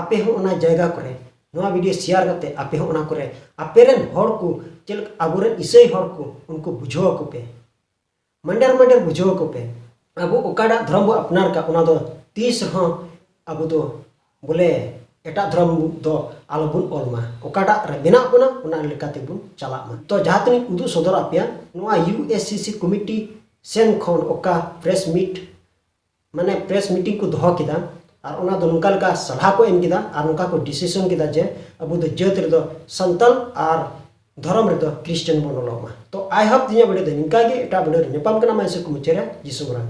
ᱟᱯᱮ ᱦᱚᱸ ᱚᱱᱟ ᱡᱟᱭᱜᱟ ᱠᱚᱨᱮ ᱱᱚᱣᱟ ᱵᱷᱤᱰᱤᱭᱳ ᱥᱮᱭᱟᱨ ᱠᱟᱛᱮ ᱟᱯᱮ ᱦᱚᱸ ᱚᱱᱟ ᱠᱚᱨᱮ ᱟᱯᱮ ᱨᱮᱱ ᱦᱚᱲ ᱠᱚ ᱪᱮᱫ ᱞᱮᱠᱟ ᱟᱵᱚ ᱨᱮᱱ ᱤᱥᱟᱹᱭ ᱦᱚᱲ ᱠᱚ ᱩᱱᱠᱩ ᱵᱩᱡᱷᱟᱹᱣ ᱟᱠᱚ ᱯᱮ ᱢᱟᱱᱰᱟᱨ ᱢᱟᱱᱰᱟᱨ ᱵᱩᱡᱷᱟᱹᱣ ᱟᱠᱚ ᱯᱮ ᱟᱵᱚ ᱚᱠᱟᱴᱟᱜ ᱫᱷᱚᱨᱚᱢ ᱵᱚ ᱟᱯᱱᱟᱨ ᱠᱟᱜ ᱚᱱᱟ ᱫᱚ ᱛᱤᱥ ᱨᱮᱦᱚᱸ ᱟᱵᱚ ᱫᱚ ᱵᱚᱞᱮ ᱮᱴᱟᱜ ᱫᱷᱚᱨᱚᱢ ᱫᱚ ᱟᱞᱚ ᱵᱚᱱ ᱚᱞ ᱢᱟ ᱚᱠᱟᱴᱟᱜ ᱨᱮ ᱢᱮᱱᱟᱜ ᱵᱚᱱᱟ ᱚᱱᱟ ᱞᱮᱠᱟ ᱛᱮᱵᱚᱱ ᱪᱟᱞᱟᱜ ᱢᱟ ᱛᱚ ᱡᱟᱦᱟᱸ ᱛᱤᱱᱟᱹᱜ ᱩᱫᱩᱜ ᱥᱚᱫᱚᱨ ᱟᱯᱮᱭᱟ ᱱᱚᱣᱟ U S C C committee ᱥᱮᱱ ᱠᱷᱚᱱ ᱚᱠᱟ ᱯᱨᱮᱥ ᱢᱤᱴ ᱢᱟᱱᱮ ᱯᱨᱮᱥ ᱢᱤᱴᱤᱝ ᱠᱚ ᱫᱚᱦᱚ ᱠᱮᱫᱟ ᱟᱨ ᱚᱱᱟ ᱫᱚ ᱱᱚᱝᱠᱟ ᱞᱮᱠᱟ ᱥᱟᱞᱦᱟ ᱠᱚ ᱮᱢ ᱠᱮᱫᱟ ᱟᱨ ᱱᱚᱝᱠᱟ ᱠᱚ ᱰᱤᱥᱤᱥᱚᱱ ᱠᱮᱫᱟ ᱡᱮ ᱟᱵᱚ ᱫᱚ ᱡᱟᱹᱛ ᱨᱮᱫᱚ ᱥᱟᱱᱛᱟᱞ ᱟᱨ ᱫᱷᱚᱨᱚᱢ ᱨᱮᱫᱚ ᱠᱨᱤᱥᱴᱟᱱ ᱵᱚᱱ ᱚᱞᱚᱜ ᱢᱟ ᱛᱚ ᱟᱭ ᱦᱚᱯ ᱤᱧᱟᱹᱜ ᱵᱷᱤᱰᱤᱭᱳ ᱫᱚ ᱱᱚᱝᱠᱟ ᱜᱮ ᱮᱴᱟᱜ ᱵᱷᱤᱰᱤᱭᱳ ᱨᱮ ᱧᱟᱯᱟᱢ ᱠᱟᱱᱟ ᱢᱟ ᱤᱥᱚᱨ ᱠᱚ ᱢᱩᱪᱟᱹᱫ ᱨᱮ ᱡᱤᱥᱩ ᱢᱟᱨᱟᱝ